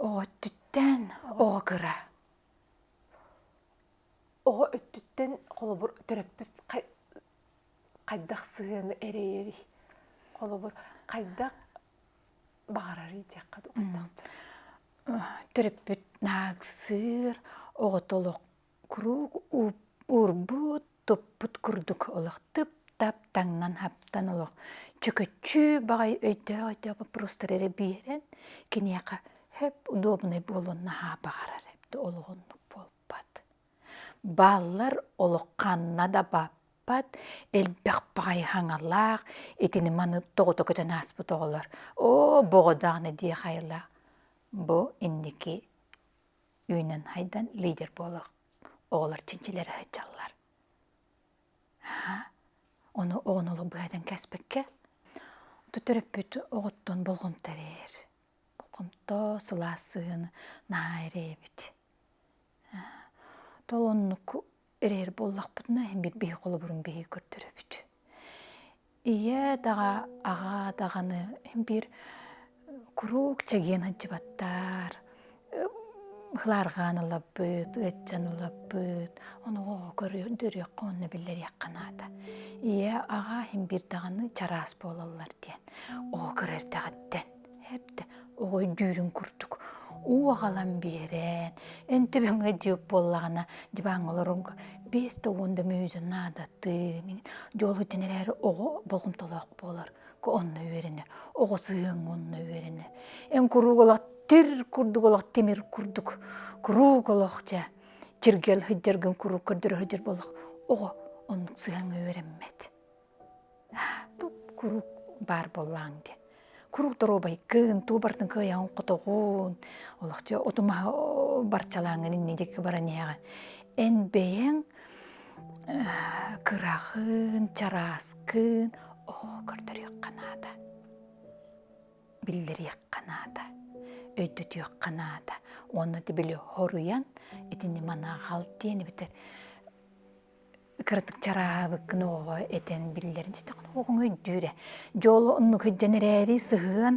оҕо өттүттэн оҕо кыра оҕо өттүттэн холобур төрөппүт хайдах сыһыаны эрэйэрий холобур хайдах баҕарарый диэххэ дуу хайдах төрөппүт наахсыыр оҕото олох куруук уурбут туппут курдук олох тып-тап таҥнан хаптан олох чөкөччүү баҕай өйдөөх-өйдөөх боппуруостары эрэ биэрэн киниэхэ хөп удобнай буолуон наһаа баҕарар эбит олоҕуннук буолбат бааллар олох ханна да баппат элбэх баҕайы хаҥалаах итини маны тоҕута көтөн ааспыт оҕолор оо боҕо даҕаны дии хайылаах бу инники үүнэн хайдан лидер буолах оҕолор чинчилэрэ сылдьаллар. Ону оҕону олох быһадан кэспэккэ, оту төрөппүт оҕоттон болҕомтолиир. Болҕомто сылаас сыһыан наһаа эрэйэбит. Тол оннук эрэйэр буоллахпытына, иһин биир биһи холобурун биһи көрдөрөбүт. Ийээ даҕа, аҕаа даҕаны ин биир куруук чэгиэн сылдьыбаттар, ылаарҕаан ылабыт, ыаччан ылабыт, ону оо көрүөххэ уонна биллэриэххэ наада. Ийээ, аҕаа ин биир даҕаны чараас буолаллар диэн, оо кыра эрдэҕиттэн Эптэ оҕой дүүрүн курдук уу аҕалан биэрэн, эн төбөҥө диэк буоллаҕына диваҥ олорорго биэс да уон да мүөзө наадатыын. Дьол иһин эрээри оҕо болҕомтолоох буолар. Онно үөрэнэр. Оҕо сыһыан онно үөрэнэр. Эн куруук олох тир курдук олох тимир курдук куруук олох дьэ чиргэл сылдьаргын куруук көрдөрө сылдьар буоллах оҕо оннук сыһыаҥҥа үөрэммэт. куруук баар буоллаҕыҥ дии куруук доруобай гын тугу барытын кыайаҕын хотоҕун олохчу оту маһы барчалааҥҥын инньэ диэки баран иһэҕин эн бэйэҥ кыраҕын чарааскын оо көрдөрүөххэ наада биллэриэххэ наада өйдөтүөххэ наада уонна тибили хоруйан итини манааҕал диэн эбэтэр кыратык чараабыккын оҕоҕо этэн биллэрин истэххинэ оҕоҕун өйдүүрэ дьоло оннук сыһыан эрээри сыһыан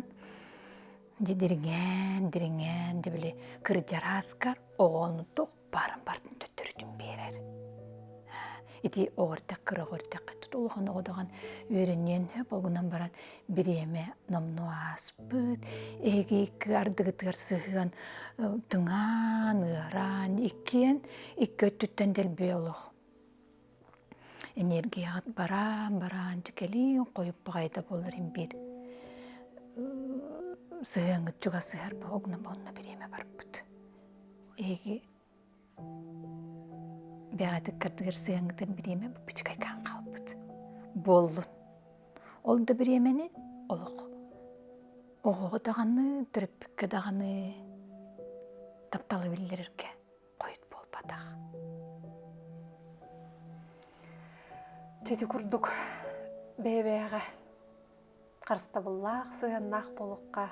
дьэ дириҥээн дириҥээн дьэ били кырдьарааскар оҕону туох баарын бартын төттөрүтүн биэрэр ити оҕо эрдэх кыра оҕо эрдэххэ улахан оҕо даҕан үөрэниэн болгунан баран бириэмэ номнуо ааспыт, эһиги икки ардыгытыгар сыһыан тыҥаан, ыараан, иккиэн икки өттүттэн дэлби олох энергияҕыт бараан-бараан дьикэлиин хойут баҕайыта буолар имбиир сыһыаҥҥыт чугасыһар буолна буолна бириэмэ барбыт. Эһиги Бэҕэтик кырдыгыр сыһаҥытын бириэмэ буппучкайгаан хаалбыт. Буоллун. Ол да бириэмэни олох оҕоҕо даҕаны, төрөппүккэ даҕаны тапталы биллэрэргэ хойут буолбатах. Чэчи курдук бэйэ-бэйэҕэ харыстабыллаах сыһыаннаах буолуохха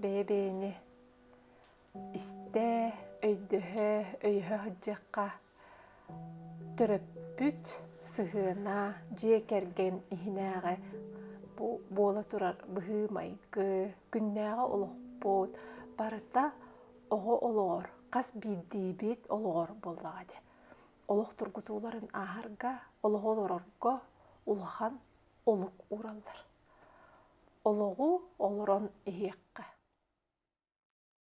бэйэ-бэйэни истээ, өйдөһө, өйөһө сылдьыахха. Төрөппүт сыһыана, дьиэ кэргэн иһинээҕи буола турар быһыы-майгы, күннээҕи олохпут барыта оҕо олоҕор, хас биирдиибит олоҕор буоллаҕа дии. Олох тургутууларын ааһарга, олоҕу олорорго улахан олук уураллар. Олоҕу олорон иһиэххэ.